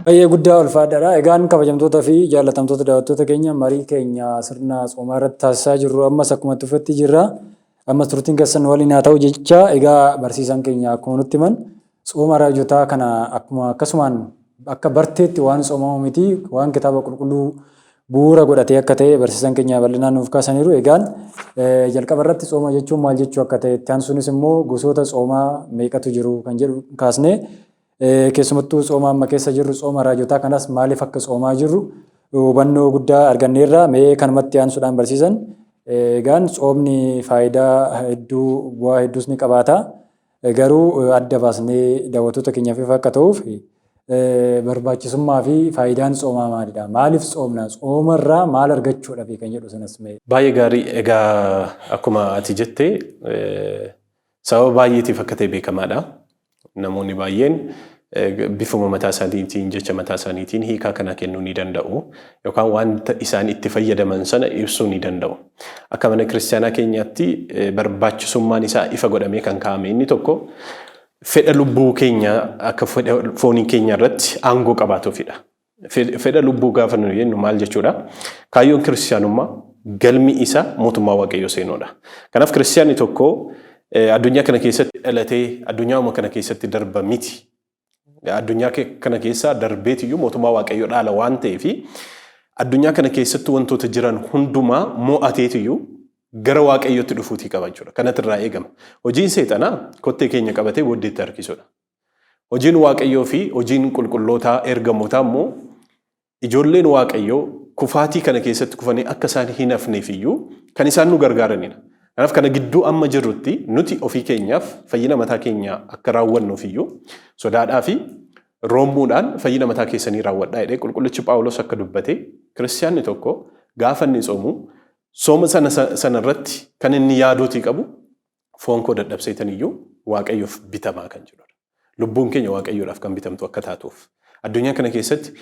Baay'ee guddaa ulfaadhaadha. Egaan kabajamtoota fi jaallatamtoota daawwattoota keenya marii keenya sirna soomaa irratti taasisaa jirru ammas akkuma itti fufetti jirra. Ammas turtiin keessan nu waliin haa ta'u jecha egaa barsiisaan keenya akkuma nutti himan sooma raajotaa kana akkuma akkasumaan akka barteetti waan soomamu miti waan kitaaba qulqulluu bu'uura godhatee akka ta'e barsiisaan keenya bal'inaan nuuf kaasaniiru. Egaan jalqaba irratti sooma jechuun maal jechuu akka ta'e itti aansuunis immoo gosoota soomaa meeqatu jiru kan jedhu kaasnee Keessumattuu tsooma amma keessa jirru tsooma raajotaa kanas maaliif akka tsoomaa jirru hubannoo guddaa arganneerra. Mee kanumatti aansuudhaan barsiisan egaan tsoomni faayidaa hedduu bu'aa hedduus ni qabaata. Garuu adda baasnee daawwattoota keenyaaf ifa akka ta'uuf barbaachisummaa fi faayidaan tsoomaa maalidha? Maaliif tsoomna? Tsooma irraa maal argachuudha fi kan jedhu sanas mee. Baay'ee gaarii egaa akkuma ati jette Sababa baay'eetiif akka ta'e beekamaadha. Namoonni baay'een bifuma mataa isaaniitiin, jecha mataa isaaniitiin hiikaa kanaa kennuu ni danda'u. Yookaan wanta isaan itti fayyadaman sana ibsuu ni danda'u. Akka mana kiristaanaa keenyaatti barbaachisummaan isaa ifa godhamee kan kaa'ame inni tokko fedha lubbuu keenya akka fedha foonii keenya irratti aangoo qabaatuufidha. Fedha lubbuu gaafa nu jennu maal jechuudha? Kaayyoon kiristiyaanummaa galmi isa mootummaa waaqayyoo seenuudha. Kanaaf kiristiyaanni tokko addunyaa kana keessatti dhalatee addunyauma kana keessatti darba miti. Addunyaa kana keessaa darbeetiyyuu mootummaa waaqayyoo dhaala waan ta'eef addunyaa kana keessatti wantoota jiran hundumaa mo'ateetiyyuu gara waaqayyootti dhufuutii qaba jechuudha. Kanatu irraa eegama. Hojiin seexanaa kottee keenya qabatee booddeetti harkisuudha. Hojiin Waaqayyoo fi hojiin qulqullootaa ergamootaa immoo ijoolleen Waaqayyoo kufaatii kana keessatti kufanii akka isaan hin hafneef iyyuu kan isaan nu gargaaranidha. Kanaaf kana gidduu amma jirrutti nuti ofii keenyaaf fayyina mataa keenyaa akka raawwannuuf iyyuu sodaadhaa fi roommuudhaan fayyina mataa keessanii raawwadhaa jedhee qulqullichi Phaawulos akka dubbate kiristiyaanni tokko gaafa inni tsoomu sooma sana sana irratti kan inni yaaduutii qabu Foon koo dadhabseetan iyyuu Waaqayyoof bitamaa kan jedhudha. Lubbuun keenya Waaqayyoodhaaf kan bitamtu akka taatuuf. Addunyaa kana keessatti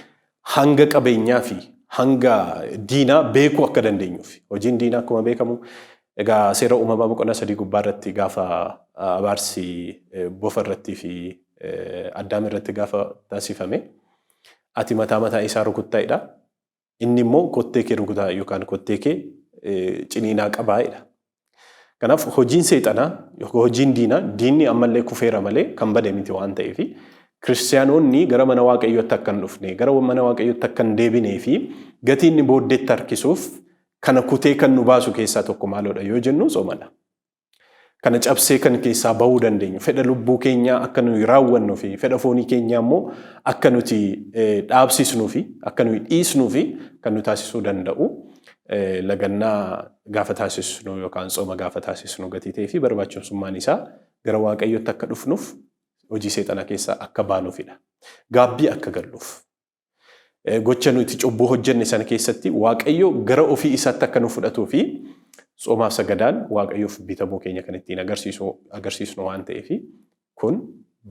hanga qabeenyaa fi hanga diinaa beekuu akka dandeenyuuf. Hojiin diinaa akkuma beekamu egaa seera uumamaa boqonnaa sadii gubbaa irratti gaafa abaarsi bofa irratti fi addaam irratti gaafa taasifame ati mataa mataa isaa rukuttaa'edha. Inni immoo kottee kee rukutaa yookaan kottee kee ciniinaa qabaa jedha. Kanaaf hojiin seexanaa yookaan hojiin diinaa diinni ammallee kufeera malee kan bade miti waan ta'eef kiristiyaanonni gara mana waaqayyootti akka hin dhufne gara mana waaqayyootti akka hin deebinee fi gatii inni booddeetti harkisuuf kana kutee kan nu baasu keessaa tokko maaloodha yoo jennu soomadha. Kana cabsee kan keessaa bahuu dandeenyu fedha lubbuu keenyaa akka nuyi raawwannuu fi fedha foonii keenyaa immoo akka nuti dhaabsisnuu fi akka nuyi dhiisnuu fi kan nu taasisuu danda'u lagannaa gaafa taasisnu yookaan tsooma gaafa taasisnu gatii ta'ee fi barbaachisummaan isaa gara waaqayyootti akka dhufnuuf hojii seexanaa keessaa akka baanuufidha. Gaabbii akka galluuf. Gocha nuti cubbuu hojjenne sana keessatti Waaqayyo gara ofii isaatti akka nu fudhatuu fi tsomaaf sagadaan Waaqayyoof bitamuu keenya kan ittiin agarsiisu agarsiisnu waan ta'eef kun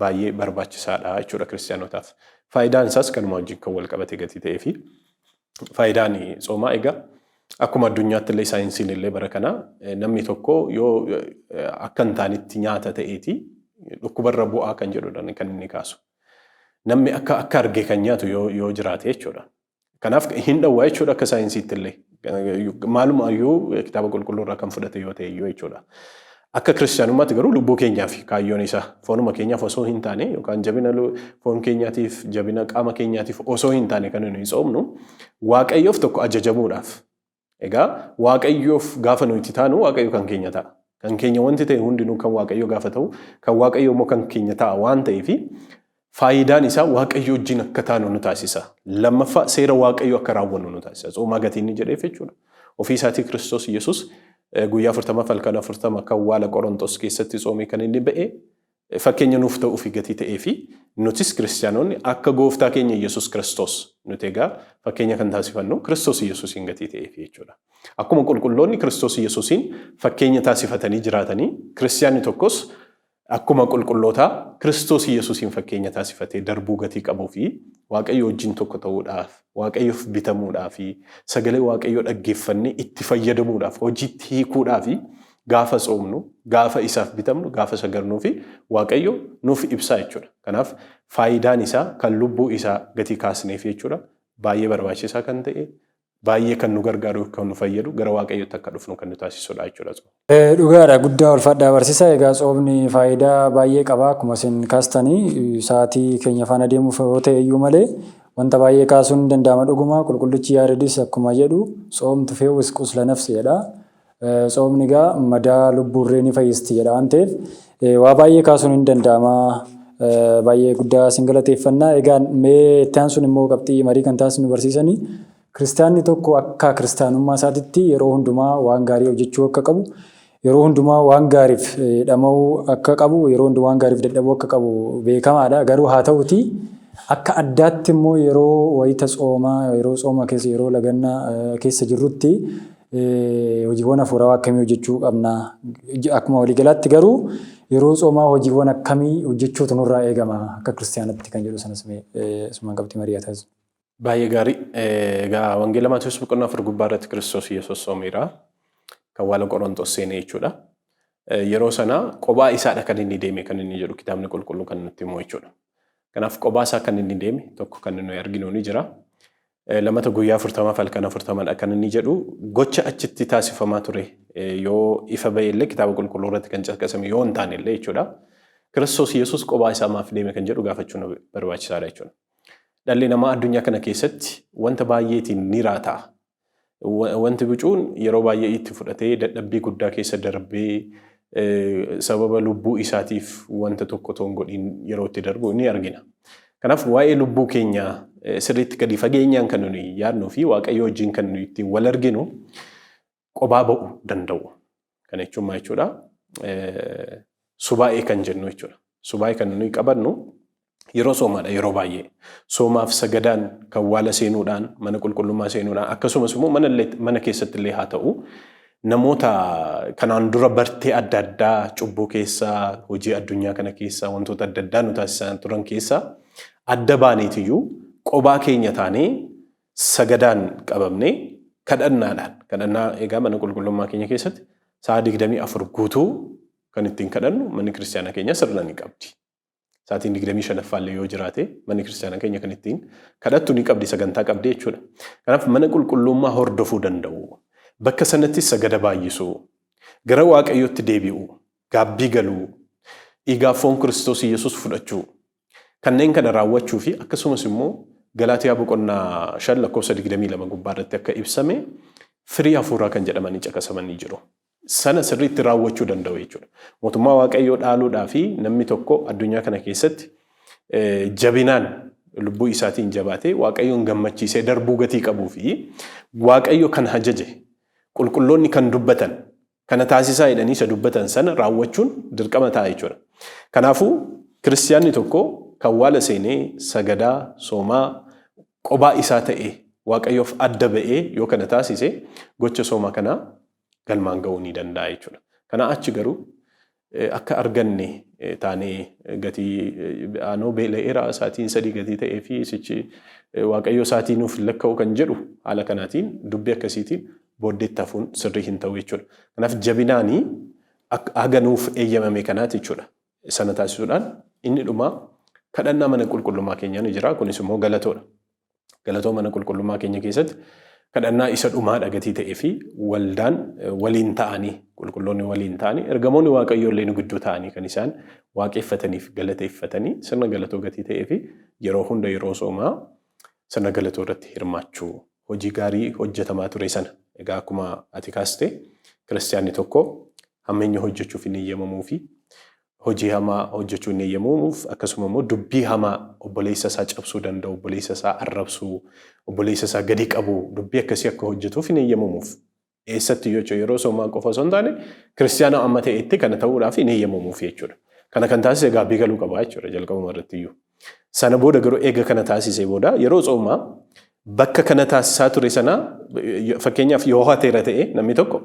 baay'ee barbaachisaadha jechuudha kiristaanotaaf. Faayidaan isaas kanuma wajjin kan wal qabate gatii ta'ee fi faayidaan tsoomaa egaa akkuma addunyaatti illee saayinsiin illee bara kana namni tokko yoo akka hin taanetti nyaata ta'eeti dhukkubarra bu'aa kan jedhudha kan inni kaasu. Namni akka akka arge kan nyaatu yoo yoo jiraate jechuudha. Kanaaf hin dhowwaa jechuudha akka saayinsiitti illee. Maaluma iyyuu kitaaba qulqulluu irraa kan fudhate yoo ta'e iyyuu jechuudha. Akka kiristaanummaatti garuu lubbuu keenyaaf kaayyoon isaa foonuma keenyaaf osoo hin taane yookaan jabina lu- foon keenyaatiif jabina qaama keenyaatiif osoo hin taane kan nuyi tsoomnu waaqayyoof tokko ajajamuudhaaf Egaa Waaqayyoof gaafa nu itti taanu Waaqayyo kan keenya ta'a. Kan keenya wanti ta'e hundinuu kan Waaqayyo gaafa ta'u kan Waaqayyo immoo kan keenya ta'a waan ta'eef faayidaan isaa Waaqayyo wajjin akka taanu nu taasisa. Lammaffaa seera Waaqayyo akka raawwannu nu taasisa. Tsoomaa gatii inni jedheef jechuudha. Ofii isaatii Kiristoos Yesuus guyyaa 40 halkan 40 akka awwaala Qorontos keessatti tsoomee kan inni ba'e Fakkeenya nuuf ta'uufi gatii ta'eefi nutis Kiristiyaanonni akka Gooftaa keenya Iyyasuus Kiristoos nuti egaa fakkeenya kan taasifannu Kiristoos Iyyasuusiin gatii ta'eefi jechuudha. Akkuma qulqulloonni Kiristoos Iyyasuusiin fakkeenya taasifatanii jiraatanii Kiristiyaanni tokkos akkuma qulqullootaa Kiristoos Iyyasuusiin fakkeenya taasifatee darbuu gatii qabuufi Waaqayyo wajjin tokko ta'uudhaaf, Waaqayyoof bitamuudhaafi sagalee Waaqayyoo dhaggeeffannee itti fayyadamuudhaaf, hojiitti hiikuudhaafi Gaafa tsoomnu, gaafa isaaf bitamnu, gaafa sagadnuu fi Waaqayyo nuuf ibsaa jechuudha. Kanaaf faayidaan isaa kan lubbuu isaa gatii kaasneef jechuudha. Baay'ee barbaachisaa kan ta'e, baay'ee kan nu gargaaru, kan nu fayyadu, gara Waaqayyootti akka dhufnu kan nu taasisudha jechuudha tsoomni. Dhugaadha guddaa ulfaadhaa barsiisa egaa tsoomni faayidaa baay'ee qaba akkuma isin kaastanii sa'aatii keenya faana deemuuf yoo ta'e iyyuu malee wanta baay'ee kaasuun ni danda'ama dhuguma qulqullichi yaaredis akkuma jedhu tsoom tufeewwis qusla nafsi jedha Tsoomni egaa madaa lubbuurree ni fayyisti jedha waan ta'eef waa baay'ee kaasuun hin danda'ama. Baay'ee guddaa sin galateeffannaa. Egaa mee itti aansuun immoo qabxii marii kan taasisnu barsiisanii kiristaanni tokko akka kiristaanummaa isaatitti yeroo hundumaa waan gaarii hojjechuu akka qabu yeroo hundumaa waan gaariif dhama'uu akka qabu yeroo hundumaa waan gaariif dadhabuu akka qabu beekamaadha. Garuu haa ta'uutii akka addaatti immoo yeroo wayita tsoomaa yeroo tsooma keessa yeroo lagannaa keessa jirrutti Hojiiwwan hafuurawaa akkamii hojjechuu qabna? Akkuma waliigalaatti garuu yeroo tsoomaa hojiiwwan akkamii hojjechuutu nurraa eegama akka kiristiyaanatti kan jedhu sanas mee asumaan qabxii marii haa taasisnu. Baay'ee gaarii. Egaa Wangeela Maatewos boqonnaa afur gubbaa irratti Kiristoos Yesuus soomeera. Kan waala Qorontos seenee jechuudha. Yeroo sana qobaa isaadha kan inni deeme kan inni jedhu kitaabni qulqulluu kan nutti himu jechuudha. Kanaaf qobaa isaa kan inni deeme tokko kan nuyi arginu ni jira. Lamata guyyaa afurtamaaf halkan afurtaman akkana inni jedhu gocha achitti taasifamaa ture yoo ifa ba'e illee kitaaba qulqulluu irratti kan caqasame yoo hin taane illee jechuudha. Kiristoos Yesuus qophaa isaa maaf deeme kan jedhu gaafachuu nu barbaachisaadha jechuudha. Dhalli namaa addunyaa kana keessatti wanta baay'eetiin ni raata'a. Wanti bicuun yeroo baay'ee itti fudhatee dadhabbii guddaa keessa darbee sababa lubbuu isaatiif wanta tokko toon godhiin yeroo itti darbu ni argina. Kanaaf waa'ee lubbuu keenyaa sirriitti gadi fageenyaan kan nuyi yaadnuu fi Waaqayyoo wajjin kan nuyi ittiin wal arginu qobaa ba'uu danda'u. Kana jechuun maal jechuudha? Subaa'ee kan jennu jechuudha. Subaa'ee kan nuyi qabannu yeroo soomaadha yeroo baay'ee. Soomaaf sagadaan kan waala seenuudhaan mana qulqullummaa seenuudhaan akkasumas immoo mana illee- mana keessatti illee haa ta'u namoota kanaan dura bartee adda addaa cubbuu keessaa hojii addunyaa kana keessaa wantoota adda addaa nu taasisaa turan keessaa adda baaneetiyyuu qobaa keenya taanee sagadaan qabamnee kadhannaadhaan kadhannaa egaa mana qulqullummaa keenya keessatti sa'a 24 guutuu kan ittiin kadhannu manni kiristaanaa keenya sirna ni qabdi. Sa'aatiin 25ffaa illee yoo jiraate manni kiristaanaa keenya kan ittiin kadhattu ni qabdi sagantaa qabdi jechuudha. Kanaaf mana qulqullummaa hordofuu danda'u. Bakka sanatti sagada baay'isuu, gara waaqayyootti deebi'uu, gaabbii galuu, dhiigaaf foon Kiristoos Yesuus fudhachuu, Kanneen kana raawwachuu fi akkasumas immoo Galaatiyaa boqonnaa 5 lakkoofsa 22 gubbaa irratti akka ibsame firii hafuuraa kan jedhamanii caqasamanii jiru. Sana sirriitti raawwachuu danda'u jechuudha. Mootummaa Waaqayyoo dhaaluudhaa fi namni tokko addunyaa kana keessatti jabinaan lubbuu isaatiin jabaatee Waaqayyoon gammachiisee darbuu gatii qabuu fi Waaqayyo kan hajaje qulqulloonni kan dubbatan kana taasisaa jedhanii isa dubbatan sana raawwachuun dirqama ta'a jechuudha. Kanaafuu kiristiyaanni tokko kan waala seenee sagadaa, soomaa, qobaa isaa ta'ee waaqayyoof adda ba'ee yoo kana taasise gocha sooma kanaa galmaan ga'uu ni danda'a jechuudha. Kanaa achi garuu akka arganne taanee gatii aanoo beela'eera isaatiin sadii gatii ta'ee fi sichi waaqayyoo isaatii nuuf hin lakka'u kan jedhu haala kanaatiin dubbii akkasiitiin booddeetti hafuun sirrii hin ta'u jechuudha. Kanaaf jabinaanii haga nuuf eeyyamame kanaati jechuudha. Sana taasisuudhaan inni dhumaa kadhannaa mana qulqullummaa keenyaa ni jira. Kunis immoo galatoodha. Galatoo mana qulqullummaa keenya keessatti kadhannaa isa dhumaadha gatii ta'ee fi waldaan waliin ta'anii qulqulloonni waliin ta'anii ergamoonni waaqayyoo illee nu gidduu ta'anii kan isaan waaqeffataniif galateeffatanii sirna galatoo gatii ta'ee fi yeroo hunda yeroo soomaa sirna galatoo irratti hirmaachuu hojii gaarii hojjetamaa ture sana egaa akkuma ati kaaste kiristiyaanni tokko hammeenya hojjechuuf hin eeyyamamuu fi hojii hamaa hojjechuu hin eeyyamamuuf, akkasuma immoo dubbii hamaa obboleessa isaa cabsuu danda'u, obboleessa isaa arrabsuu, obboleessa isaa gadi qabu, dubbii akkasii akka hojjetuuf hin eeyyamamuuf. Eessatti yoo jechuun yeroo soomaa qofa osoo hin taane kiristiyaana amma ta'etti kana ta'uudhaaf hin eeyyamamuuf jechuudha. Kana kan taasise gaabbii galuu qaba jechuudha jalqabuma irratti iyyuu. Sana booda garuu eega kana taasisee booda yeroo tsoomaa bakka kana taasisaa ture sana fakkeenyaaf yoo hateera ta'e namni tokko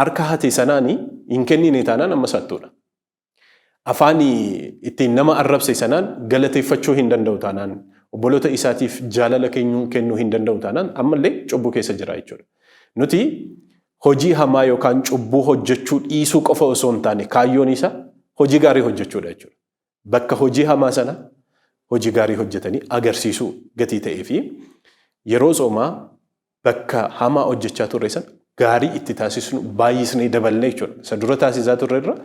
harka hate sanaan hin kennine taanaan amma saattuudha. Afaan ittiin nama arrabse sanaan galateeffachuu hin danda'u taanaan obboloota isaatiif jaalala keenyuun kennuu hin danda'u taanaan ammallee cubbuu keessa jira jechuudha. Nuti hojii hamaa yookaan cubbuu hojjechuu dhiisuu qofa osoo hin taane kaayyoon isaa hojii gaarii hojjechuudha jechuudha. bakka hojii hamaa sana hojii gaarii hojjetanii agarsiisuu gatii ta'ee fi yeroo soomaa bakka hamaa hojjechaa turre sana gaarii itti taasisnu baay'isnee daballee jechuudha. Isa dura taasisaa turre irra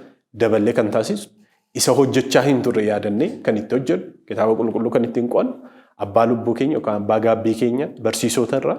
daballee kan taasisnu isa hojjechaa hin turre yaadannee kan itti hojjennu kitaaba qulqulluu kan ittiin qo'annu abbaa lubbuu keenya yookaan abbaa gaabbii keenya barsiisota irraa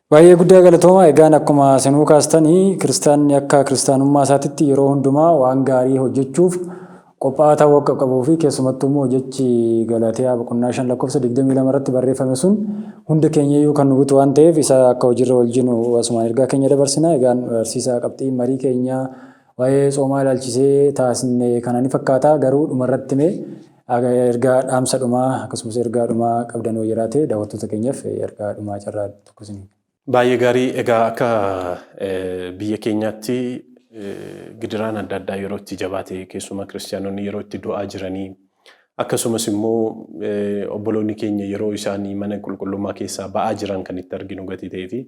Baay'ee guddaa galatoomaa. Egaan akkuma isinuu kaastani kiristaanni akka kiristaanummaa isaatitti yeroo hundumaa waan gaarii hojjechuuf qophaa'aa ta'uu akka qabuu fi keessumattuu immoo jechi Galaatiyaa boqonnaa 5 lakkoofsa 22 irratti barreeffame sun hunda keenyayyuu kan nu butu waan ta'eef isa akka hojiirra oolchinu asumaan ergaa keenya dabarsina. Egaan barsiisaa qabxiin marii keenyaa waa'ee tsoomaa ilaalchisee taasisne kana ni fakkaata garuu dhumarratti mee Ergaa dhaamsa dhumaa akkasumas ergaa dhumaa qabdan yoo jiraate daawwattoota keenyaaf ergaa dhumaa carraa tokko isin. Baay'ee gaarii egaa akka biyya keenyaatti gidiraan adda addaa yeroo itti jabaate keessumaa kiristiyaanonni yeroo itti du'aa jiranii akkasumas immoo obboloonni keenya yeroo isaan mana qulqullummaa keessaa ba'aa jiran kan itti arginu gatii ta'ee fi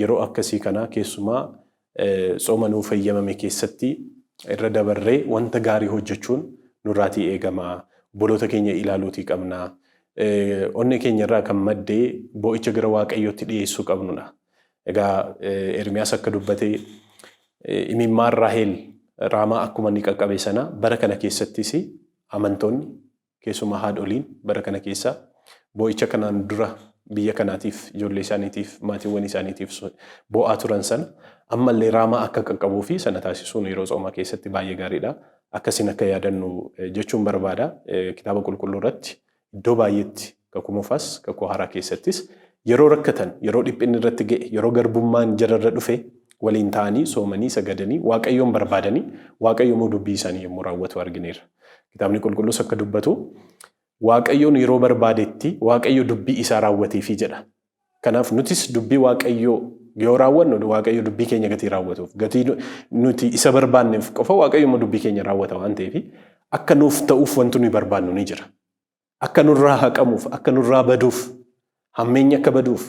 yeroo akkasii kana keessumaa Tsooma nuuf heyyamame keessatti irra dabarree wanta gaarii hojjechuun nurraatii eegama. Obboloota keenya ilaaluutii qabna. Onnee keenya irraa kan madde boo'icha gara Waaqayyootti dhiyeessuu qabnudha. Egaa Ermiyaas akka dubbate imimmaan Raaheel Raamaa akkuma inni qaqqabe sana bara kana keessattis amantoonni Keessumaa haadholiin bara kana keessa boo'icha kanaan dura biyya kanaatiif, ijoollee isaaniitiif, maatiiwwan isaaniitiif boo'aa turan sana ammallee raamaa akka qaqqabuu fi sana taasisuun yeroo tsoomaa keessatti baay'ee gaariidha. Akkasiin akka yaadannu jechuun barbaada. Kitaaba qulqulluu irratti iddoo baay'eetti Kakuu Moofaas, Kakuu Haaraa keessattis yeroo rakkatan, yeroo dhiphinni irratti ga'e, yeroo garbummaan jara irra dhufe waliin ta'anii soomanii, sagadanii, Waaqayyoon barbaadanii, Waaqayyo immoo dubbii isaanii yommuu raawwatu argineerra. Kitaabni Qulqulluus akka dubbatu Waaqayyoon yeroo barbaadetti Waaqayyo dubbii isaa raawwateefi jedha. Kanaaf nutis dubbii Waaqayyoo yoo raawwannu Waaqayyo dubbii keenya gatii raawwatuuf, gatii nuti isa barbaanneef qofa Waaqayyo immoo dubbii keenya raawwata waan ta'eef akka nuuf ta'uuf wanti nuyi barbaannu ni jira. Akka nurraa haqamuuf, akka nurraa baduuf, hammeenyi akka baduuf,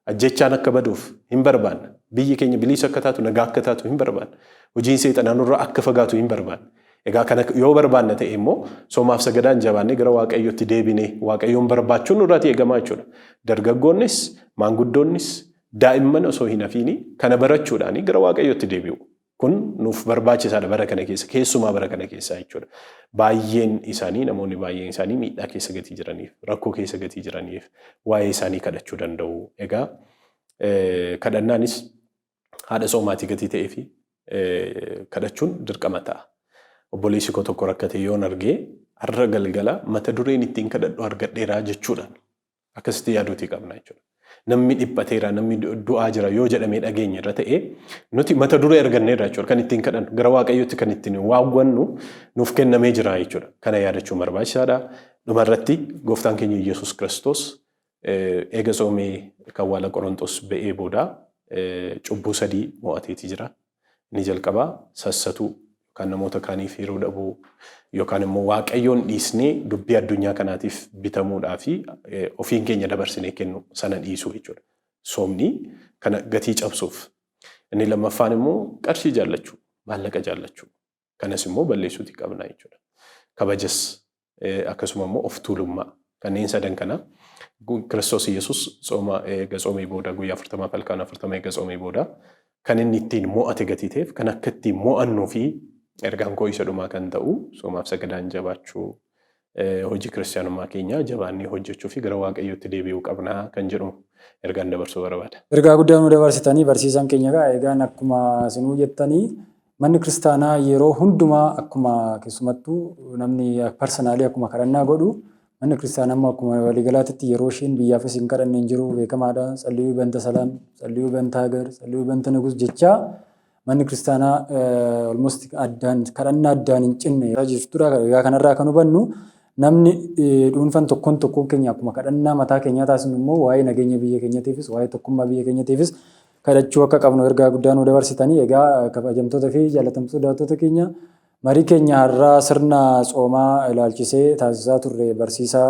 ajjeechaan akka baduuf hin barbaanna. Biyyi keenya biliisa akka taatu, nagaa akka taatu hin barbaanna. Hojiin seexanaa nurraa akka fagaatu hin barbaanna. Egaa kana yoo barbaanna ta'e immoo soomaaf sagadaan jabaannee gara Waaqayyootti deebinee Waaqayyoon barbaachuun nurraatii eegamaa jechuudha. Dargaggoonnis, maanguddoonnis, daa'imman osoo hin hafiini kana barachuudhaanii gara Waaqayyootti deebi'u. Kun nuuf barbaachisaadha bara kana keessa keessumaa bara kana keessa jechuudha. Baay'een isaanii namoonni baay'een isaanii miidhaa keessa gatii jiraniif rakkoo keessa gatii jiraniif waa'ee isaanii kadhachuu danda'u. Egaa kadhannaanis haadha soomaatii gatii ta'ee fi kadhachuun dirqama ta'a. Obboleessi koo tokko rakkatee yoon argee har'a galgala mata dureen ittiin kadhadhu argadheeraa jechuudhaan Akkasitti yaaduutii qabna jechuudha. Namni dhiphateera, namni du'aa jira yoo jedhamee dhageenye irra ta'e nuti mata duree arganneerra jechuudha. Kan ittiin kadhannu gara Waaqayyootti kan ittiin waawwannu nuuf kennamee jira jechuudha. Kana yaadachuun barbaachisaadha. Dhuma irratti gooftaan keenya Yesuus Kiristoos eega soomee kan waala Qorontos ba'ee booda cubbuu sadii mo'ateeti jira. Inni jalqabaa sassatuu yookaan namoota kaaniif yeroo dhabuu yookaan immoo Waaqayyoon dhiisnee dubbii addunyaa kanaatiif bitamuudhaa fi ofiin keenya dabarsinee kennu sana dhiisuu jechuudha. Soomni kana gatii cabsuuf. Inni lammaffaan immoo qarshii jaallachuu, maallaqa jaallachuu. Kanas immoo balleessuuti qabna jechuudha. Kabajas akkasuma immoo of tuulummaa kanneen sadan kana Kiristoos Yesuus tsooma eega tsoomee booda guyyaa afurtamaaf halkaan afurtama eega tsoomee booda kan inni ittiin mo'ate gatii ta'eef kan akka ittiin mo'annuu fi ergaan koo isa dhumaa kan ta'u soomaaf sagadaan jabaachuu hojii kiristiyaanummaa keenyaa jabaannee hojjechuu fi gara waaqayyootti deebi'uu qabna kan jedhu ergaan dabarsuu barbaada. Ergaa guddaa nu dabarsitanii barsiisaan keenya egaa egaan akkuma sinuu jettanii manni kiristaanaa yeroo hundumaa akkuma keessumattuu namni parsanaalii akkuma kadhannaa godhu manni kiristaanaa immoo akkuma waliigalaatitti yeroo isheen biyyaafis hin kadhanne hin jiru beekamaadha. Tsalliyuu banta salaam, tsalliyuu banta hagar, tsalliyuu banta nugus jechaa Manni kiristaanaa almost addaan kadhannaa addaan hin cinne irra jirtudha. Egaa kanarraa kan hubannu namni dhuunfan tokkoon tokkoon keenya akkuma kadhannaa mataa keenyaa taasisnu immoo waa'ee nageenya biyya keenyatiifis waa'ee tokkummaa biyya keenyatiifis kadhachuu akka qabnu ergaa guddaa nu dabarsitanii egaa kabajamtoota fi jaalatamtoota daawwattoota keenya marii keenya har'aa sirna tsoomaa ilaalchisee taasisaa turre barsiisaa